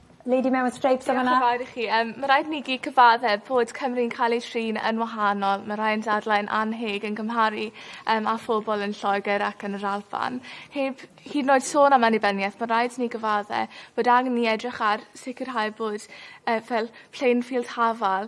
Lady mewn streips yn fana. Diolch yn fawr i chi yym ma' raid i ni gyd cyfadde bod Cymru'n ca'l ei trin yn wahanol ma' rhai yn dadlau yn annheg yn cymharu yym â phobol yn Lloeger ac yn yr Alban. Heb hyd yn oed sôn am annibyniaeth ma' raid i ni gyfadde bod angen i ni edrych ar sicirhau bod yy fel plain field hafal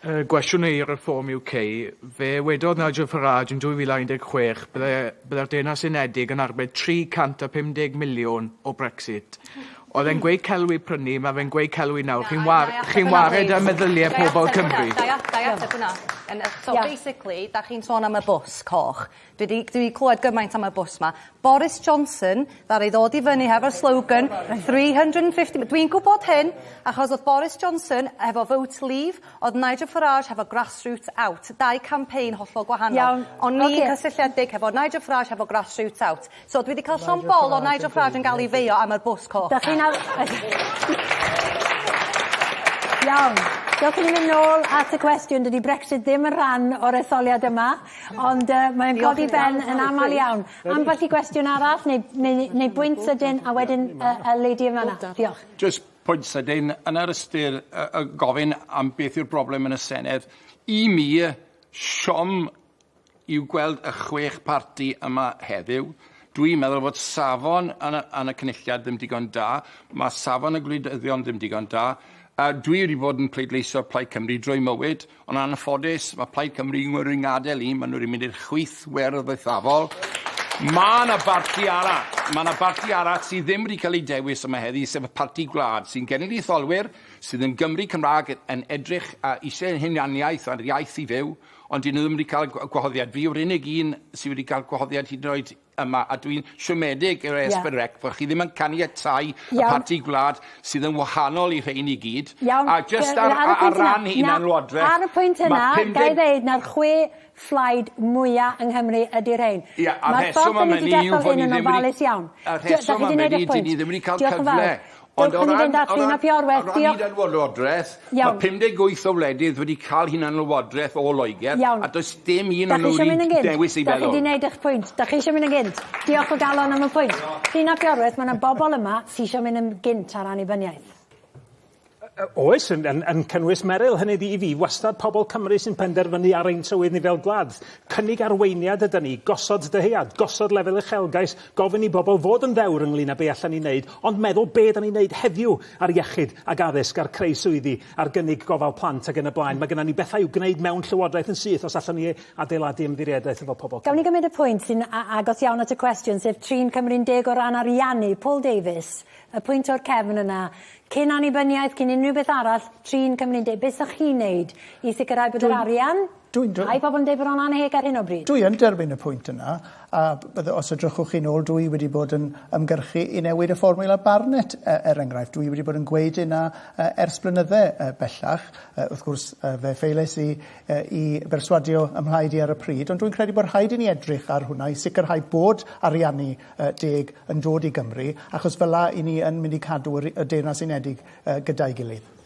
Y gwestiwn i Reform UK, fe wedodd Nigel Farage yn 2016 byddai'r Deyrnas Unedig yn arbed 350 miliwn o Brexit. Oedd e'n gweud celw i prynu, mae fe'n gweud celw i nawr. Chi'n war, chi'n wared ar meddyliau pobl Cymru. Da i ateb hwnna. So basically, da chi'n sôn am y bws coch. Dwi 'di dwi 'di clywed gymaint am y bws 'ma. Boris Johnson ddaru ddod i fyny hefo'r slogan 350 m- dwi'n gwybod hyn achos oedd Boris Johnson hefo vote leave, oedd Nigel Farage hefo grassroots out, dau campaign hollol gwahanol. Iawn, ocê. O'n i'n cysylltiedig hefo Nigel Farage hefo grassroots out. So dwi 'di cael llond bol o Nigel Farage yn gael ei feio am yr bws coch. Dach chi'n Iawn. Dewch i ni mynd nôl at y cwestiwn. Dydy Brexit ddim yn rhan o'r etholiad yma ond yy mae'n codi ben yn amal iawn. Ambell i gwestiwn arall neu neu neu neu bwynt sydyn a wedyn yy y lady yn fanna. Diolch. Jyst pwynt sydyn yn yr ystyr yy yy gofyn am beth yw'r broblem yn y Senedd. I mi siom yw gweld y chwech parti yma heddiw. Dwi'n meddwl fod safon yn y, yn y cynulliad ddim digon da, mae safon y gwleidyddion ddim digon da. A dwi wedi bod yn pleidleisio Plaid Cymru drwy mywyd, ond anffodus, mae Plaid Cymru yn ngwrw ngadael i, maen nhw wedi mynd i'r chwith werdd eithafol. Mae yna barti arall, mae yna barti arall sydd ddim wedi cael ei dewis yma heddi, sef y parti gwlad, sy'n genedlaetholwyr, sydd yn Gymry Cymraeg, yn edrych a eisiau hunaniaeth a'r iaith i fyw, Ond 'dyn nhw ddim wedi cael gwa- gwahoddiad. Fi yw'r unig un sydd wedi cael gwahoddiad hyd yn oed yma, a dwi'n siomedig gyda yeah. Esbyn Rec bod chi ddim yn caniatáu y parti gwlad sydd yn wahanol i rhein i gyd. Iawn. A just ar, ar, ar ran hunan lwodraeth... Ar y pwynt yna, gael ddeud na'r chwe fflaid mwyaf yng Nghymru ydy rhein. Ia, a'r rheswm am hynny yw fod ni ddim wedi... Mae'r ffordd yn mynd i iawn. A'r rheswm am hynny ydy ni ddim wedi cael cyfle Ond o ran... Dewch i ni fynd at Lun ap Iorwerth. Diolch. O ran hunanlywodraeth... Iawn. ...mae 58 o wledydd wedi cael hunanlywodraeth o Loegr... Iawn. ...a does dim un o nhw wedi dewis ei fel hwn. Dach chi eisiau mynd yn gynt? Dach chi 'di neud eich pwynt. Dach chi eisiau mynd yn gynt? Diolch o galon am y pwynt. Diolch. Lun ap Iorwerth, ma' 'na bobol yma sy isio mynd yn gynt ar annibyniaeth. Yy yy oes yn yn yn cynnwys Meryl, hynny ydi i fi wastad pobol Cymru sy'n penderfynu ar ein tywydd ni fel gwlad. Cynnig arweiniad ydan ni, gosod dyhead, gosod lefel uchelgais Gofyn i bobl fod yn ddewr ynglŷn â be allan ni wneud, ond meddwl be dan ni'n wneud heddiw ar iechyd ac addysg, ar creu swyddi, ar gynnig gofal plant ac yn y blaen. Mae gennym ni bethau i'w gwneud mewn Llywodraeth yn syth os allwn ni adeiladu ymddiriedaeth efo pobl Cymru. Gawn ni gymryd y pwynt sy'n agos iawn at y cwestiwn, sef trin Cymru'n deg o ran ariannu. Paul Davies, y pwynt o'r cefn yna, cyn annibyniaeth, cyn unrhyw beth arall, trin Cymru'n deg. Beth 'sech chi'n wneud i sicrhau bod yr arian... Dwi'n dw-... Mae pobl yn dweud bod o'n annheg ar hyn o bryd. Dwi yn derbyn y pwynt yna, a bydde, os edrychwch chi'n ôl, dwi wedi bod yn ymgyrchu i newid y fformiwla Barnett, e, er enghraifft. Dwi wedi bod yn gweud hynna e, ers blynydde e, bellach. E, wrth gwrs, e, fe ffeilais i e, i berswadio ym mhlaid i ar y pryd, ond dwi'n credu bod rhaid i ni edrych ar hwnna i sicrhau bod ariannu e, deg yn dod i Gymru, achos fel 'na i ni yn mynd i cadw y Deyrnas Unedig e, gyda'i gilydd.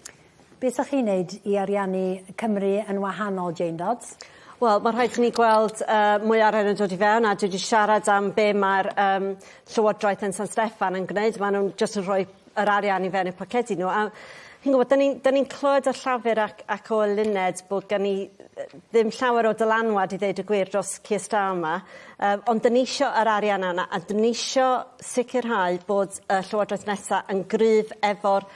Be sa chi'n neud i ariannu Cymru yn wahanol, Jane Dodds? Wel ma' rhaid i ni gweld yy mwy o arian yn dod i fewn a dwi 'di siarad am be' ma'r yym llywodraeth yn San Steffan yn gwneud ma' nw'n jyst yn rhoi yr arian i fewn eu pocedi n'w a chi'n gwbod 'dyn ni'n 'dyn ni'n clywed o Llafur ac ac o Luned bo' gen ni yy ddim llawer o dylanwad i ddeud y gwir dros Keir Starmer yym ond 'dyn ni isio yr arian yna a 'dyn ni isio sicirhau bod y llywodraeth nesa yn gryf efo'r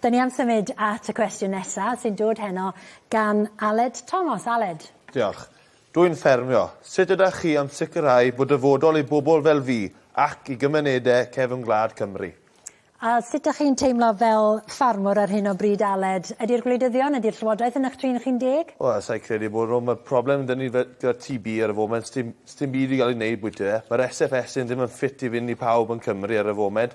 Dyn ni am symud at y cwestiwn nesa, sy'n dod heno gan Aled Thomas. Aled. Diolch. Dw i'n ffermio. Sut ydach chi am sicrhau bod dyfodol i bobl fel fi ac i gymunedau cefn gwlad Cymru? A sut dych chi'n teimlo fel ffarmwr ar hyn o bryd, Aled? Ydi'r gwleidyddion, ydi'r llywodraeth yn eich trin chi'n deg? Wel, sa i credu bod nhw. Mae'r problem 'da ni fe- gyda TB ar y foment, sdim, sdim byd i gael ei wneud bwyty fe. Mae'r SFSA ddim yn ffit i fynd i pawb yn Cymru ar y foment.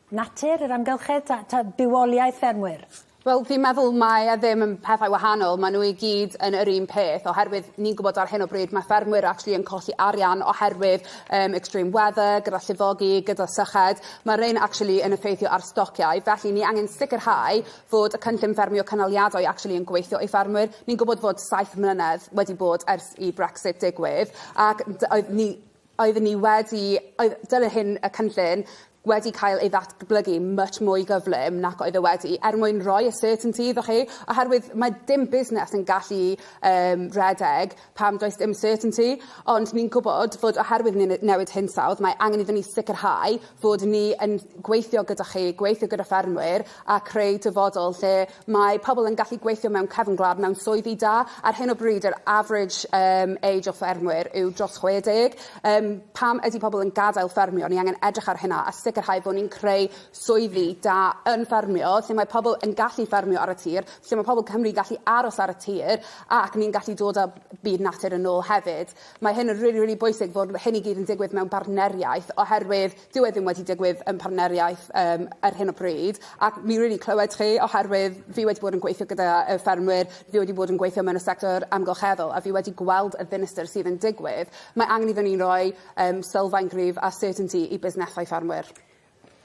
natur yr amgylchedd ta ta bywoliaeth ffermwyr? Wel fi'n meddwl mae e ddim yn pethau wahanol ma' n'w i gyd yn yr un peth oherwydd ni'n gwbod ar hyn o bryd ma' ffermwyr actually yn colli arian oherwydd yym extreme weather gyda llifogi gyda syched ma' rein actually yn effeithio ar stociau felly ni angen sicirhau fod y cynllun ffermio cynaliadwy actually yn gweithio i ffermwyr ni'n gwbod fod saith mlynedd wedi bod ers i Brexit digwydd ac dy- oedd ni Oeddwn ni wedi, oedd, dyna hyn y cynllun, wedi cael ei ddatblygu much mwy gyflym nac oedd e wedi, er mwyn roi y certainty iddo chi, oherwydd mae dim busnes yn gallu um, redeg pam does dim certainty, ond ni'n gwybod fod oherwydd ni'n newid hinsawdd, mae angen iddyn ni sicrhau fod ni yn gweithio gyda chi, gweithio gyda ffermwyr a creu dyfodol lle Mae pobl yn gallu gweithio mewn cefn gwlad mewn swyddi da. Ar hyn o bryd yr average um, age o ffermwyr yw dros 60. Um, pam ydy pobl yn gadael ffermio? Ni angen edrych ar hynna a sicrhau bod ni'n creu swyddi da yn ffermio lle mae pobl yn gallu ffermio ar y tir, lle mae pobl Cymru gallu aros ar y tir ac ni'n gallu dod â byd natur yn ôl hefyd. Mae hyn yn rili, really, really bwysig fod hyn i gyd yn digwydd mewn bartneriaeth oherwydd Dyw e ddim wedi digwydd yn partneriaeth yym ar hyn o bryd ac mi rili clywed chi oherwydd fi wedi bod yn gweithio gyda y ffermwyr, fi wedi bod yn gweithio mewn y sector amgylcheddol a fi wedi gweld y ddinistr sydd yn digwydd. Mae angen iddon ni roi yym sylfaen gryf a certainty i busnesau ffermwyr.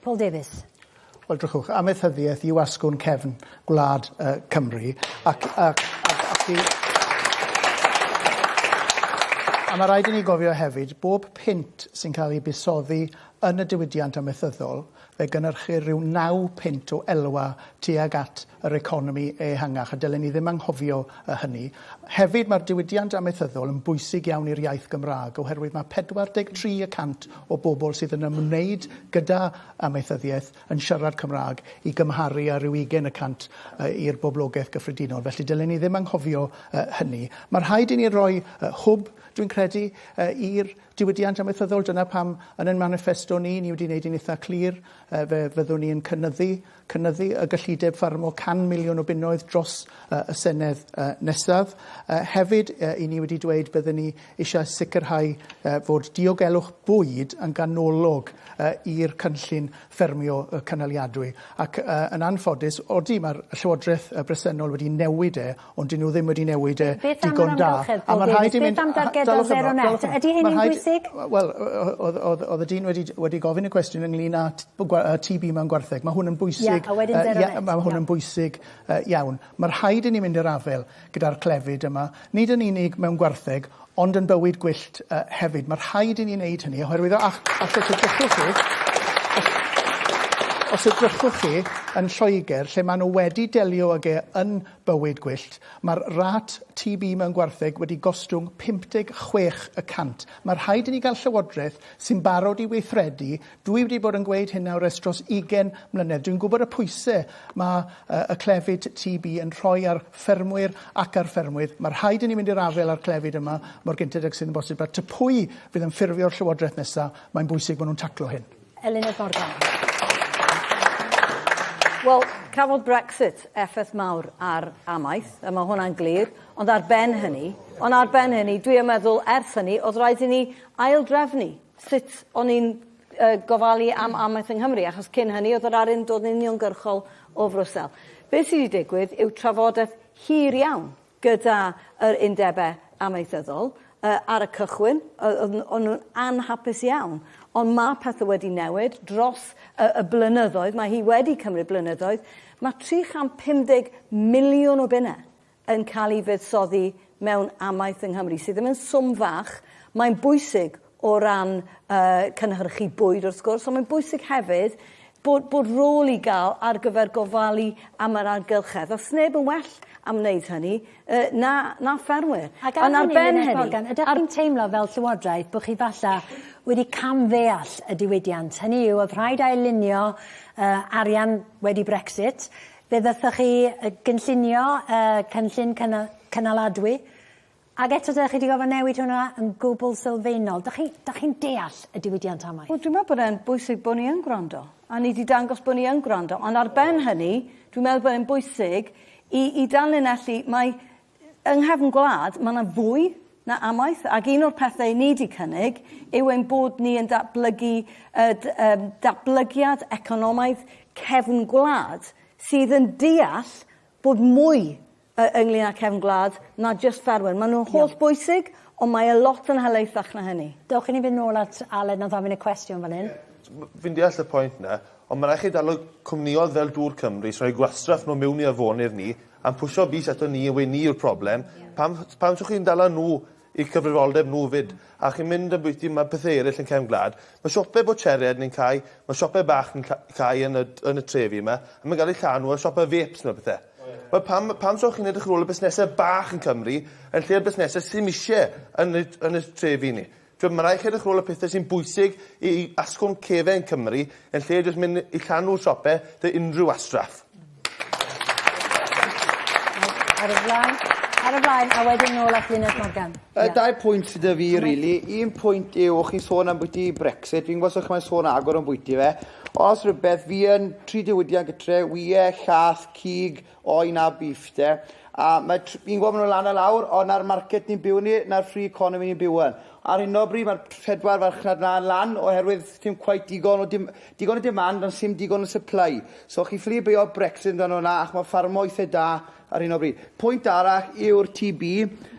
Paul Davies. Wel, drychwch, amaethyddiaeth yw asgwrn cefn gwlad yy Cymru ac a ac i... A ma' raid i ni gofio hefyd, bob punt sy'n ca'l 'i buddsoddi yn y diwydiant amaethyddol, fe gynyrchir ryw naw punt o elwa tuag at yr economi ehangach, a dylen ni ddim anghofio hynny. Hefyd, mae'r diwydiant amaethyddol yn bwysig iawn i'r iaith Gymraeg, oherwydd mae 43 y cant o bobl sydd yn ymwneud gyda amaethyddiaeth yn siarad Cymraeg, i gymharu â rhyw ugain y cant i'r boblogaeth gyffredinol. Felly, dylen ni ddim anghofio hynny. Mae rhaid i ni roi hwb, dwi'n credu, i'r diwydiant amaethyddol. Dyna pam, yn ein maniffesto ni, ni wedi wneud hi'n eitha' clir, fe fyddwn ni yn cynyddu cynyddu y gyllideb ffarmo 100 miliwn o bunnoedd dros y Senedd nesaf. Hefyd, i ni wedi dweud byddwn ni eisiau sicrhau fod diogelwch bwyd yn ganolog i'r cynllun ffermio cynaliadwy. Ac yn anffodus, odi, mae'r Llywodraeth bresennol wedi newid e, Ond 'dyn nhw ddim wedi newid e digon da. Beth am yr amgylchedd pob dydd? Beth am dargedau zero net? Ydy hyn yn bwysig? Wel, oedd y dyn wedi gofyn y cwestiwn ynglyn â TB mewn gwartheg. Mae hwn yn bwysig. Mae hwn yn bwysig iawn. Mae rhaid i ni mynd i'r afael gyda'r clefyd yma, nid yn unig mewn gwartheg, ond yn bywyd gwyllt hefyd. Mae rhaid i ni wneud hynny, oherwydd os edrychwch chi, os edrychwch chi yn Lloegr, lle maen nhw wedi delio ag e yn Bywyd Gwyllt, Mae'r rât TB mewn gwartheg wedi gostwng 56 y cant. Mae rhaid i ni gael Llywodraeth sy'n barod i weithredu. Dwi wedi bod yn gweud hyn nawr ers dros 20 mlynedd. Dwi'n gwybod y pwysau mae y clefyd TB yn rhoi ar ffermwyr ac ar ffermwydd. Mae rhaid i ni mynd i'r afael â'r clefyd yma mor gynted ag sydd yn bosib. A ta pwy fydd yn ffurfio'r Llywodraeth nesaf, mae'n bwysig bod nhw'n taclo hyn. Eluned Morgan Wel, cafodd Brexit effaith mawr ar amaeth, a mae hwnna'n glir, ond ar ben hynny, ond ar ben hynny, dwi yn meddwl ers hynny, oedd rhaid i ni aildrefnu sut o'n i'n uh, gofalu am amaeth yng Nghymru, achos cyn hynny oedd yr arian dod yn uniongyrchol o Frwsel. Beth sydd wedi digwydd yw trafodaeth hir iawn gyda yr undebau amaethyddol, ar y cychwyn, oedd nhw'n anhapus iawn. Ond mae pethau wedi newid dros y blynyddoedd, mae hi wedi cymryd blynyddoedd. Mae 350 miliwn o bunnau yn cael ei fuddsoddi mewn amaeth yng Nghymru, sydd ddim yn swm fach. Mae'n bwysig o ran yy cynhyrchu bwyd wrth gwrs on' mae'n bwysig hefyd bod bod rôl i ga'l ar gyfer gofalu am yr argylchedd a sneb yn well am wneud hynny yy na na ffermwyr. Ac ar hynny Menna Morgan ydach chi'n teimlo fel Llywodraeth bo' chi falla wedi cam ddeall y diwydiant hynny yw o'dd rhaid ail-lunio yy arian wedi Brexit fe ddathoch chi yy gynllunio yy cynllun cyna- cynaladwy Ac eto dach chi 'di gorfod newid hwnna yn gwbl sylfaenol. Dach chi, dach chi'n deall y diwydiant amaeth? Wel, dwi'n meddwl bod e'n bwysig bod ni yn gwrando, a ni 'di dangos bod ni yn gwrando. Ond ar ben hynny, dwi'n meddwl bod e'n bwysig i, i danlinellu mai yng nghefn gwlad mae yna fwy na amaeth, ac un o'r pethau ni 'di cynnig yw ein bod ni yn datblygu y um, datblygiad economaidd cefn gwlad sydd yn deall bod mwy yy ynglŷn â cefn gwlad na jyst ffermwyr. Maen nhw'n holl bwysig, ond mae e lot yn helaethach na hynny. Dewch i ni fynd nôl at Aled nawr gofyn y cwestiwn fan hyn. Fi'n deall y pwynt 'na, ond ma' rai' chi daro cwmnioedd fel Dŵr Cymru sy roi gwastraff nw miwn i afonydd ni a'n pwsio bys ato ni yw e ni yw'r problem. Pam pam so chi'n dala nw eu cyfrifoldeb nhw 'fyd. A chi'n mynd yn bwyty ma' pethe eryll yn cefn gwlad. Ma' siope bwtsieriaid ni'n cau, ma' siope bach ni'n ca- cau yn y yn y trefi 'ma, a ma'n ga'l eu llanw a siope vapes ma' pethe. Wel pam pam so chi'n edrych ar ôl y busnese bach yn Cymru yn lle'r busnese sim isie yn eu yn eu trefi ni? T'wod ma' rai' chi edrych ar ôl y pethe sy'n bwysig i i asgwrn cefen Cymru yn lle jyst myn' i llanw siope 'da unrhyw wastraff. Ar y flaen, ar y flaen, a wedyn nôl at Luned Morgan. Y yeah. dau pwynt sydd y fi, really. Un pwynt yw, o'ch chi'n sôn am bwyty Brexit, fi'n gwybod sych mae'n sôn agor o'n bwyty fe. Os rhywbeth, fi yn tri diwydiant gytre, wie, llath, cig, oen a beef, de. A mae, fi'n gwybod maen nhw'n lan a lawr, ond na'r market ni'n byw ni, na'r free economy ni'n byw yn. Ar hyn o bryd, mae'r pedwar farchnad na'n lan, oherwydd dim cwaith digon o dim, Digon o demand ond sim digon o supply. So chi ffili beio Brexit amdano hwnna achos mae ffarmo eitha da ar hyn o bryd. Pwynt arall yw'r TB.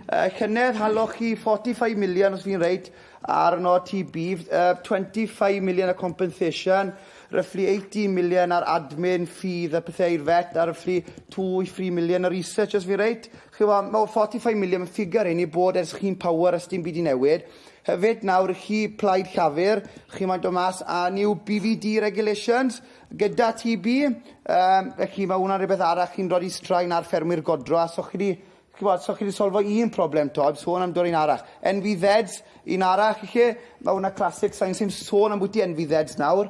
Yy llynedd haloch chi 45 million os fi'n reit ar yno TB, yy 25 million o compensation, roughly 18 million ar admin ffydd a pethau i'r vet a roughly 2 i 3 million o research os fi'n reit. Chi'n gwybod, mae 45 million, mae ffigur hyn i bod ers chi'n power a sdim byd 'di newid. Hefyd, nawr chi Plaid Llafur, chi moyn dod mas a new BVD regulations gyda TB, um, felly mae hwnna'n rhywbeth arall chi'n rhoi i straen ar ffermwyr godro, a so chi wedi Chibod, so chi wedi solfo un problem to, heb sôn am dod un arall. NVZs, un arall i chi, mae hwnna classic, sa'n ni'n sôn am bwyty NVZs nawr,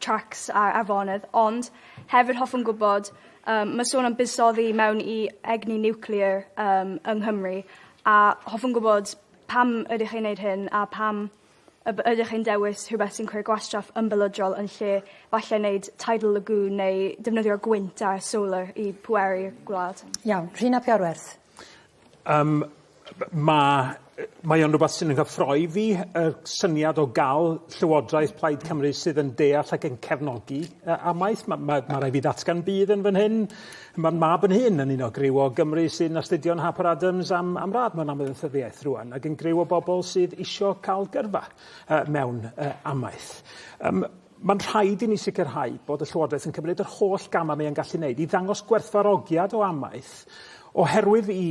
tracs a afonydd ond hefyd hoffwn gwybod yym ma' sôn am buddsoddi mewn i egni niwclear yym yng Nghymru a hoffwn gwybod pam ydych chi'n neud hyn a pam y by- ydych chi'n dewis rhywbeth sy'n creu gwastraff ymbelydrol yn lle falle neud tidal lagoon neu defnyddio gwynt a solar i pweru gwlad. Iawn. Rhun ap Iorwerth. Yym ma' yy mae o'n rwbath sy'n 'y nghyffroi fi, y syniad o ga'l llywodraeth Plaid Cymru sydd yn deall ac yn cefnogi yy amaeth. Ma' ma' ma' rai' fi ddatgan budd yn fan hyn, ma'n mab yn hŷn yn un o griw o Gymry sy'n astudio'n Harper Adams am am radd mewn amaethyddiaeth rŵan, ag yn griw o bobol sydd isio ca'l gyrfa yy mewn yy amaeth. Yym. Mae'n rhaid i ni sicrhau bod y Llywodraeth yn cymryd yr holl gamau mae e'n gallu wneud i ddangos gwerthfawrogiad o amaeth oherwydd i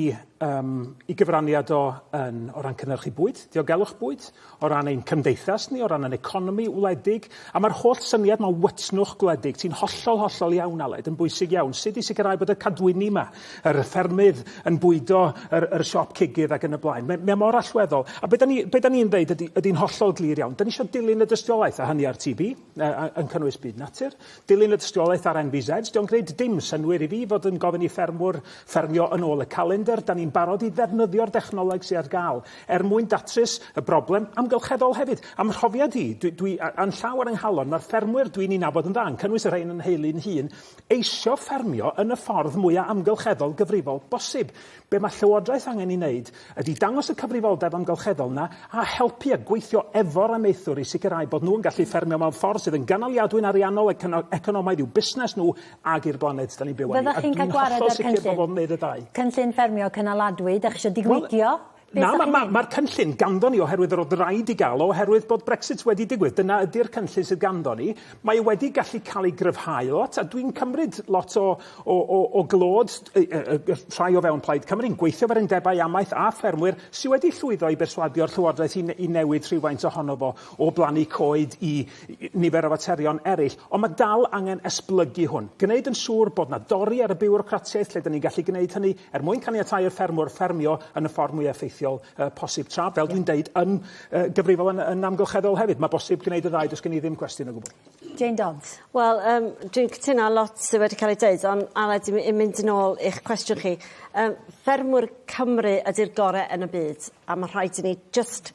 um, i gyfraniad o yn, o ran cynnyrchu bwyd, diogelwch bwyd, o ran ein cymdeithas ni, o ran yn economi wledig, a mae'r holl syniad mae wytnwch gwledig, ti'n hollol, hollol iawn, Aled, yn bwysig iawn, sut i sicrhau bod y cadwyni yma yr y ffermydd yn bwydo yr yr siop cigydd ac yn y blaen. Mae mae mor allweddol. A be' 'dan ni be' 'dan ni'n ddeud ydi ydi'n hollol glir iawn. 'Dan ni isio dilyn y dystiolaeth a hynny ar TB yy a- yn cynnwys byd natur, dilyn y dystiolaeth ar NVZ. 'Di o'n gwneud dim synnwyr i fi fod yn gofyn i ffermwr ffermio yn ôl y calendr. 'Dan ni'n barod i ddefnyddio'r dechnoleg sy ar ga'l er mwyn datrys y broblem amgylcheddol hefyd. A'm mhrofiad i, dwi dwi a- a'n llaw ar 'y nghalon, ma'r ffermwyr dwi'n 'u nabod yn dda, yn cynnwys y rhein yn nheulu'n hun, eisiau ffermio yn y ffordd mwya' amgylcheddol gyfrifol bosib. Be' ma' Llywodraeth angen 'i wneud ydi dangos y cyfrifoldeb amgylcheddol 'na a helpu a gweithio efo'r amaethwr i sicrhau bod nhw'n gallu ffermio mewn ffordd sydd yn gynaliadwy'n ariannol ac yn economaidd i'w busnes nhw ag i'r blaned 'dan ni'n byw arni, a dwi'n hollol sicr bod fo'n wneud y ddau. Fyddech chi'n cael gwared â'r cynllun, cynllun ffermio cynaladwy 'dach chi isio digwyddio? Na, ma' ma' ma'r cynllun ganddo ni oherwydd yr o'dd raid 'i ga'l o oherwydd bod Brexit wedi digwydd. Dyna ydi'r cynllun sydd ganddo ni. Mae e wedi gallu ca'l ei gryfhau lot, a dwi'n cymryd lot o o o o glod y y y y rhai o fewn Plaid Cymru yn gweithio efo'r undebau amaeth a ffermwyr sy wedi llwyddo i berswadio'r Llywodraeth i ne- i newid rhywfaint ohono fo o blannu coed i i nifer o faterion eryll. Ond ma' dal angen esblygu hwn. Gneud yn siŵr bod 'na dori ar y biwrocratiaeth lle 'dan ni'n gallu gneud hynny, er mwyn caniatáu i'r ffermwr ffermio yn y ffordd mwyaf effeithiol uh, posib tra, fel dwi'n deud, yn uh, gyfrifol yn, yn amgylcheddol hefyd. Mae bosib gwneud y ddau, does gen i ddim cwestiwn o gwbl. Jane Dons. Wel, um, dwi'n cytuno lot sydd wedi cael ei dweud, ond Aled, i'n mynd yn ôl i'ch cwestiwn chi. Um, ffermwr Cymru ydy'r gorau yn y byd, a mae rhaid i ni just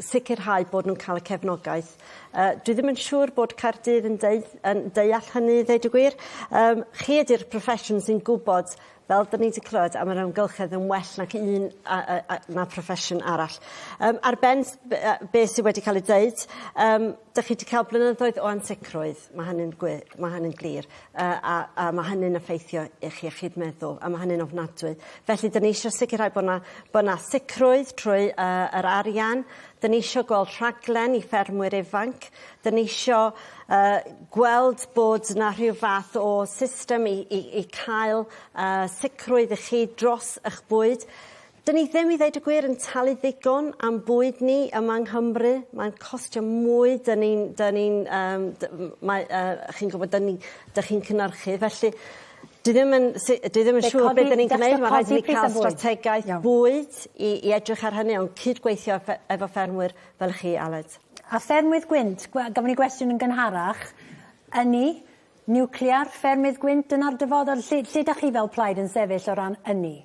sicrhau bod nhw'n cael y cefnogaeth. Uh, dwi ddim yn siŵr bod Caerdydd yn, deu, yn deall hynny i ddeud y gwir. Um, chi ydy'r profession sy'n gwybod fel dyn ni wedi clywed am yr amgylchedd yn well nac un a, a, a, na profession arall. Um, ar ben be sydd wedi cael ei dweud, um, dych chi wedi cael blynyddoedd o ansicrwydd, mae hynny'n ma hynny glir. a, a, a ma' hynny'n effeithio eich iechyd meddwl, a ma' hynny'n ofnadwy. Felly, 'dyn ni isio sicrhau bod 'na, bod 'na sicrwydd trwy uh, yr arian. 'Dyn ni isio gweld rhaglen i ffermwyr ifanc. 'Dyn ni isio uh, gweld bod 'na rhyw fath o system i, i, i cael uh, sicrwydd i chi dros eich bwyd. Dyn ni ddim i ddeud y gwir yn talu ddigon am bwyd ni yma yng Nghymru. Mae'n costio mwy dyn ni'n dyn ni'n yym dy- m- mae yy chi'n gwbod dyn ni dych chi'n cynyrchu felly dwi ddim yn si- dwi ddim yn siŵr be' 'dyn ni'n gneud ma' raid i ni ca'l strategaeth bwyd i i edrych ar hynny on' cydgweithio efe- efo ffermwyr fel chi Aled. A ffermwydd gwynt gwe- gafon ni gwestiwn yn gynharach ynni niwclear ffermydd gwynt dyna'r dyfodol lle lle 'dach chi fel plaid yn sefyll o ran ynni?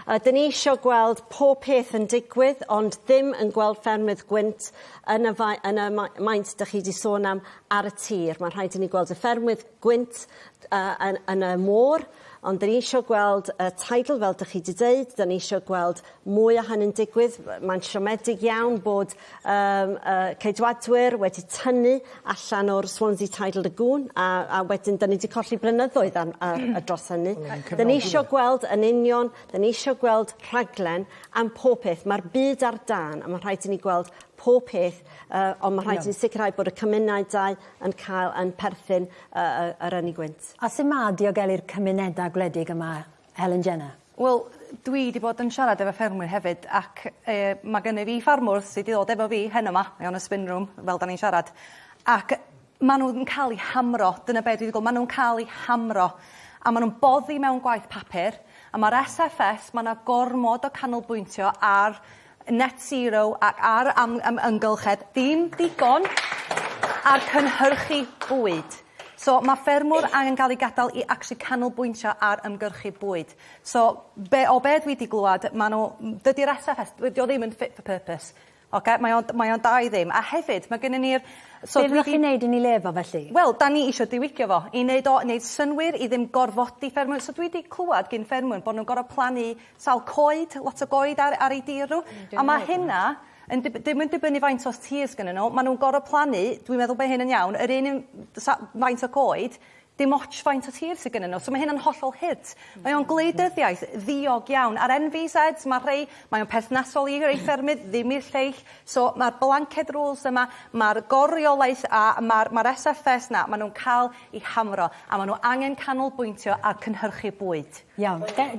Ydyn ni isio gweld pob peth yn digwydd ond ddim yn gweld ffermydd gwynt yn y fae- yn y mae- maint dych chi 'di sôn am ar y tir. Mae'n rhaid i ni gweld y ffermydd gwynt yy yn yn y môr ond 'dyn ni isio gweld y tidal fel dych chi 'di deud, 'dyn ni isio gweld mwy o hynny'n digwydd. Mae'n siomedig iawn bod Yym y Ceidwadwyr wedi tynnu allan o'r Swansea Tidal Lagoon a a wedyn 'dyn ni 'di colli blynyddoedd am ar yy dros hynny. 'Dyn ni isio gweld yn union 'dyn ni isio gweld rhaglen am pob peth ma'r byd ar dân a ma' rhaid i ni gweld pob peth yy on' ma' rhaid i ni sicirhau bod y cymunau dau yn cael yn perthyn yy yy yr ynni gwynt. A su' ma' diogelu'r cymuneda gwledig yma Helen Jenner. Wel dwi 'di bod yn siarad efo ffermwyr hefyd ac yy ma' gynyf fi ffarmwr sy 'di ddod efo fi heno 'ma mae o'n y spin room fel 'dan ni'n siarad ac ma' n'w yn ca'l 'u hamro dyna be' dwi 'di gwel' ma' nw'n ca'l 'u hamro a ma' nw'n boddi mewn gwaith papur a ma'r Ess Eff Ess ma' 'na gormod o canolbwyntio ar net zero ac ar am am ymgylchedd ddim digon ar cynhyrchu bwyd. So ma' ffermwr angen ga'l ei gadal i actually canolbwyntio ar ymgyrchu bwyd. So be' o be' dwi 'di glwad ma' n'w m- dydi'r Ess Eff Ess dydi o ddim yn fit for purpose. Oce mae o'n mae o'n da i ddim a hefyd ma' gynnon ni'r so dwi 'di... Be' fyddech chi'n neud i ni le fo felly? Wel 'dan ni isio diwygio fo i neud o neud synnwyr i ddim gorfodi ffermwyr so dwi 'di clwad gin ffermwyr bo' nw'n gor'o' plannu Sawl coed? Lot o goed ar ar ei dir n'w. A ma' hynna yn dib- dim yn dibynnu faint o tir sgynnyn n'w ma' nw'n gor'o' plannu dwi'n meddwl bo' hyn yn iawn yr un un d- sa- faint o goed dim ots faint o tir sy gynnyn n'w so ma' hyn yn hollol hyt. Mae o'n gwleidyddiaeth ddiog iawn a'r NVZs ma' rhei mae o'n perthnasol i rei ffermydd ddim i'r lleill so ma'r blanket rules yma ma'r gor-reolaeth a ma'r ma'r SFS 'na ma' nw'n ca'l 'u hamro a ma' n'w angen canolbwyntio ar cynhyrchu bwyd. Iawn. Be-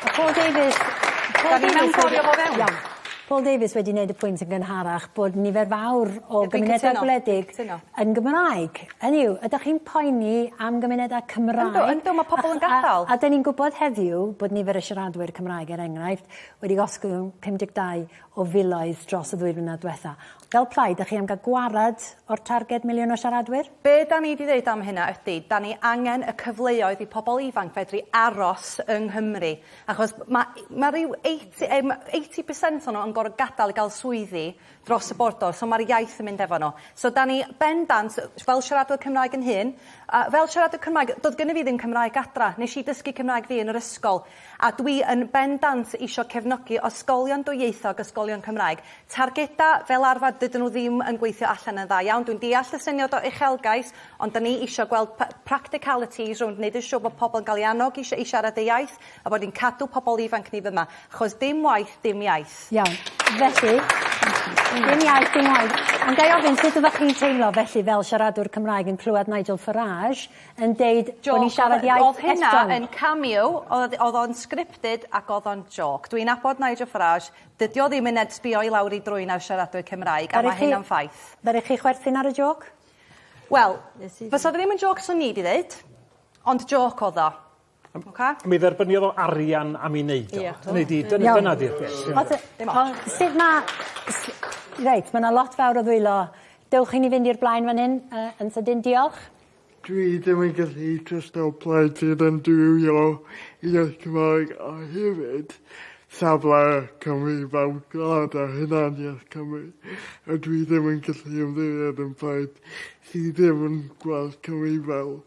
ma' Paul Davies Paul Davies wedi... 'Dan ni mewnforio fo fewn. Iawn. Paul Davies wedi neud y pwynt yn gynharach bod nifer fawr o gymunedau gwledig... Dwi'n cytuno. ...yn cytuno. ...yn Gymraeg. Hynny yw ydach chi'n poeni am gymunedau Cymraeg... Yndw yndw ma' pobol yn gadal. ...a a 'dyn ni'n gwbod heddiw bod nifer y siaradwyr Cymraeg er enghraifft wedi gosgwng 52 o filoedd dros y ddwy flynedd diwetha. Fel plaid, dach chi am gael gwared o'r targed miliwn o siaradwyr? Be' 'dan ni 'di ddeud am hynna ydi, 'dan ni angen y cyfleoedd i pobl ifanc fedru aros yng Nghymru, achos ma' ma' ryw eighty yym eighty percent o nhw yn gor'o' gadal i ga'l swyddi dros y bordor, so ma'r iaith yn mynd efo nhw. So 'dan ni bendant, fel siaradwr Cymraeg yn hŷn, a fel siaradwr Cymraeg, do'dd gynno fi ddim Cymraeg adra, nesh i dysgu Cymraeg fi yn yr ysgol, A dwi yn bendant isio cefnogi ysgolion dwyieithog, ysgolion Cymraeg. Targedau, fel arfer, dydyn nhw ddim yn gweithio allan yn dda iawn. Dwi'n deall y syniad o uchelgais, ond 'dan ni isio gweld practicalities rownd neud yn siŵr bod pobl yn cael eu annog i i siarad eu iaith, a bod ni'n cadw pobl ifanc ni fyma. Achos dim waith, dim iaith. Iawn. Felly, dim iaith, dim waith. Ond ga i ofyn, sut ydach chi'n teimlo felly fel siaradwr Cymraeg yn clywed Nigel Farage yn deud bo' ni'n siarad iaith Estron. O'dd hynna yn cameo o'dd o'dd o'n scripted ac o'dd o'n jôc. Dwi'n nabod Nigel Farage dydi o ddim yn ed- sbïo i lawr 'i drwyn ar siaradwyr Cymraeg a ma' hynna'n ffaith. Ddaru chi chwerthin ar y jôc? Wel, fysa fe ddim yn jôc swn i 'di ddeud, ond jôc o'dd o. Oce? Mi dderbyniodd o arian am 'i neud o. Ia. Hynny 'di dyna... Iawn. ...dyna 'di'r peth. Ie. O's e... Dim ots. Wel sud ma' s- reit ma' 'na lot fawr o ddwylo. Dewch chi ni fynd i'r blaen fan hyn yy yn sydyn diolch. Dwi ddim yn gallu jyst o blaid ti ddim dwylo i jyst Cymraeg a hefyd safle Cymru fel gwlad a hunaniaeth Cymru a dwi ddim yn gallu ymddiried yn plaid sy ddim yn gweld Cymru fel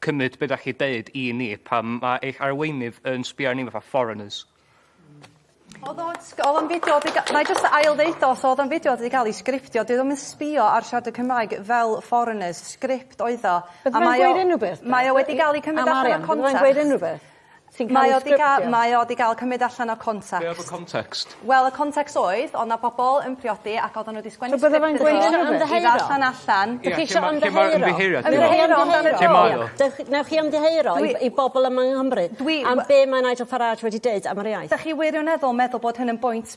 cymryd be' 'dach chi deud i ni pan ma' eich arweinydd yn sbio ar ni fatha foreigners. O'dd o sg- o'dd o'n fideo di ga- na'i jyst ail ddeud o so o'dd o'n fideo di ga'l 'i sgriptio dyw e ddim yn sbio ar siaradwyr Cymraeg fel foreigners sgript oedd o. Bydde fe'n gweud unrywbeth? Mae o wedi ga'l 'i cymryd allan o context. Am arian bydde fe'n gweud unrywbeth? Ti'n ca'l 'i sgriptio? Mae o 'di ga- mae o 'di ga'l cymyd allan o context. Be' odd y context? Wel y context oedd o' 'na pobol yn priodi ac oddan n'w 'di sgwennu script iddo fo... So bydde fe'n gweud ymddiheuro? ...i ddarllan allan. Ie lle ma'... Dych chi isio ymddiheuro? Ymddiheuro ti me'wl? Ymddiheuro amdano fo? Lle mae o? Dych newch chi ymddiheuro i i bobol yma yng Nghymru... Dwi we-... ...am be' mae Nigel Farage wedi deud am yr iaith? 'Dach chi wirioneddol meddwl bod hyn yn bwynt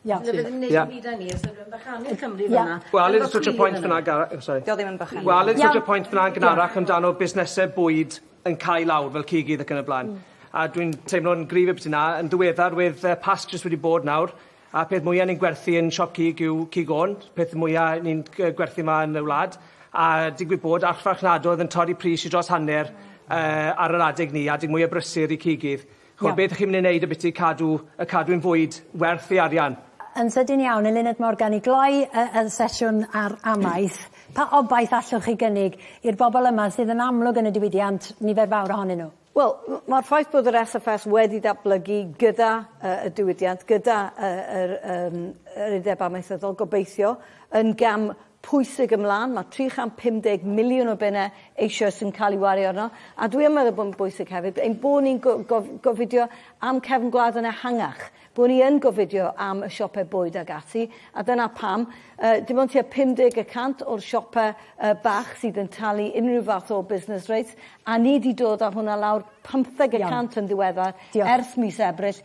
Ie. Ie. ddim neud dim byd â ni os unrywun bychanu Cymru fyn 'na. Ie. Wel let's switch to point fyn 'na Gar- o sori. 'Di o ddim yn bychanu. Wel let's switch to point fyn 'na yn gynharach amdano busnese bwyd yn cau lawr fel cig idd ac yn y bla'n. Hmm. A dwi'n teimlo'n gryf i biti 'na yn ddiweddar wedd yy Pasg jyst wedi bod nawr a peth mwya ni'n gwerthu yn siop cig yw cig ôn, peth mwya ni'n g- yy gwerthu 'ma yn y wlad a digwydd bod archfarchnadodd yn torri pris i dros hanner yy ar yr adeg 'ny, adeg mwya brysur i cig idd. Chimod, beth y'ch chi'n mynd i wneud ambiti cadw y cadw yn fwyd werth ei arian? Yn sydyn iawn, Eluned Morgan, i gloi y, y sesiwn ar amaeth, pa obaith allwch chi gynnig i'r bobl yma sydd yn amlwg yn y diwydiant, nifer fawr ohonyn nhw? Wel, mae'r ffaith bod yr SFS wedi datblygu gyda uh, y diwydiant, gyda uh, yr, um, yr Undeb Amaethyddol, gobeithio, yn gam pwysig ymlaen, mae 350 miliwn o bunnau eisoes yn cael ei wario arno, a dwi yn meddwl bod yn bwysig hefyd ein bod ni'n gofidio am cefn gwlad yn ehangach, bod ni yn gofidio am y siopau bwyd ac ati, a dyna pam dim ond tua 50 y cant o'r siopau bach sydd yn talu unrhyw fath o business rates, a ni 'di dod â hwnna lawr 50 y cant yn ddiweddar, ers mis Ebrill,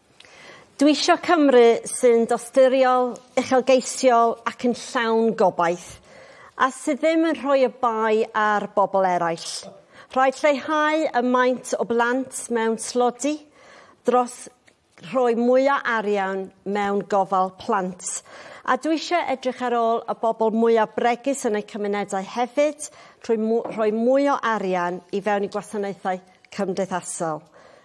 Dw i isio Cymru sy'n dosturiol, uchelgeisiol ac yn llawn gobaith, a sydd ddim yn rhoi y bai ar bobl eraill. Rhaid lleihau y maint o blant mewn tlodi dros rhoi mwy o arian mewn gofal plant. A dw i isio edrych ar ôl y bobl mwyaf bregus yn eu cymunedau hefyd trwy rhoi mwy o arian i fewn i gwasanaethau cymdeithasol.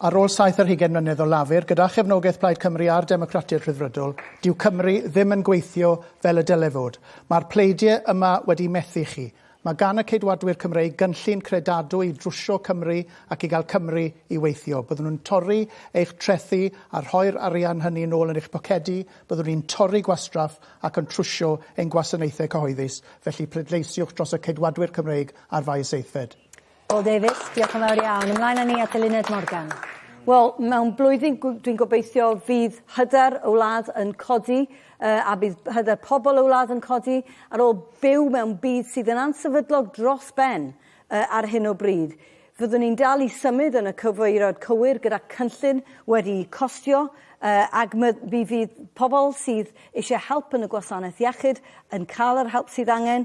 Ar ôl saith ar hugain mlynedd o Lafur, gyda chefnogaeth Plaid Cymru a'r Democratiaid Rhyddfrydol, dyw Cymru ddim yn gweithio fel y dyle fod. Mae'r pleidie yma wedi methu chi. Mae gan y Ceidwadwyr Cymreig gynllun credadwy i drwsio Cymru ac i gael Cymru i weithio. Byddwn yn torri eich trethi a rhoi'r arian hynny yn ôl yn eich pocedi, byddwn ni'n torri gwastraff ac yn trwsio ein gwasanaethau cyhoeddus, felly pleidleisiwch dros y Ceidwadwyr Cymreig ar faes aeddfed. Paul Davies, diolch yn fawr iawn. Ymlaen â ni at Eluned Morgan. Wel, mewn blwyddyn dwi'n gobeithio fydd hyder y wlad yn codi uh, a bydd hyder pobl y wlad yn codi ar ôl byw mewn byd sydd yn ansefydlog dros ben uh, ar hyn o bryd. Fyddwn ni'n dal i symud yn y cyfeiriad cywir gyda cynllun wedi costio uh, ac mi fydd pobl sydd eisiau help yn y gwasanaeth iechyd yn cael yr help sydd angen.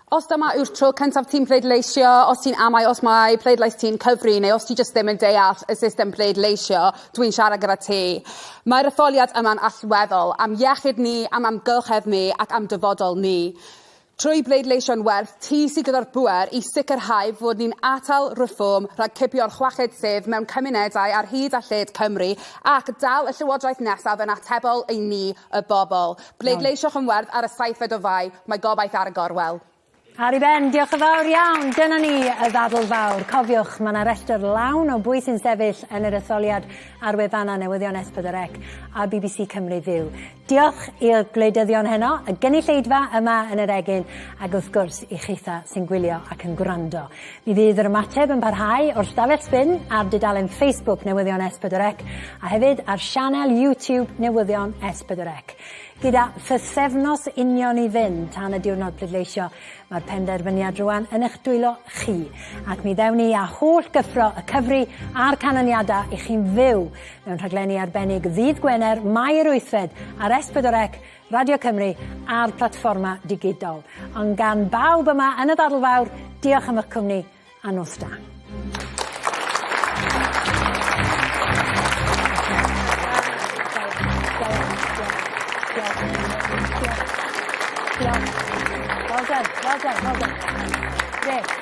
Os dyma yw'r tro cyntaf ti'n pleidleisio, os ti'n amau os mae pleidlais ti'n cyfri neu os ti jyst ddim yn deall y system pleidleisio, dwi'n siarad gyda ti. Mae'r etholiad yma'n allweddol am iechyd ni, am amgylchedd ni ac am dyfodol ni. Trwy bleidleisio'n werth, ti sydd gyda'r bŵer i sicrhau fod ni'n atal Reform rhag cipio'r chweched sedd mewn cymunedau ar hyd a lled Cymru ac dal y Llywodraeth nesaf yn atebol i ni, y bobl. Pleidleisioch yn werdd ar y saethfed o Fai, mae gobaith ar y gorwel. Ar i ben, diolch yn fawr iawn. Dyna ni, y ddadl fawr. Cofiwch, mae yna restr lawn o bwy sy'n sefyll yn yr etholiad ar wefannau newyddion S4C a bbc Cymru Fyw. Diolch i'r gwleidyddion heno, y gynulleidfa yma yn yr egin, ac wrth gwrs i chitha sy'n gwylio ac yn gwrando. Mi fydd yr ymateb yn parhau o'r stafell sbin ar dudalen Facebook Newyddion S4C a hefyd ar sianel YouTube Newyddion S4C. Gyda phythefnos union i fynd tan y diwrnod pleidleisio, mae'r penderfyniad rwan yn eich dwylo chi, ac mi ddewn ni â holl gyffro y cyfri a'r canlyniadau i chi'n fyw mewn rhaglenni arbennig ddydd Gwener, Mai yr wythfed ar S4C Radio Cymru a'r platfforma digidol. Ond gan bawb yma yn y ddadl fawr, diolch am eich cwmni a nos da. Well done, well done, well done. Great.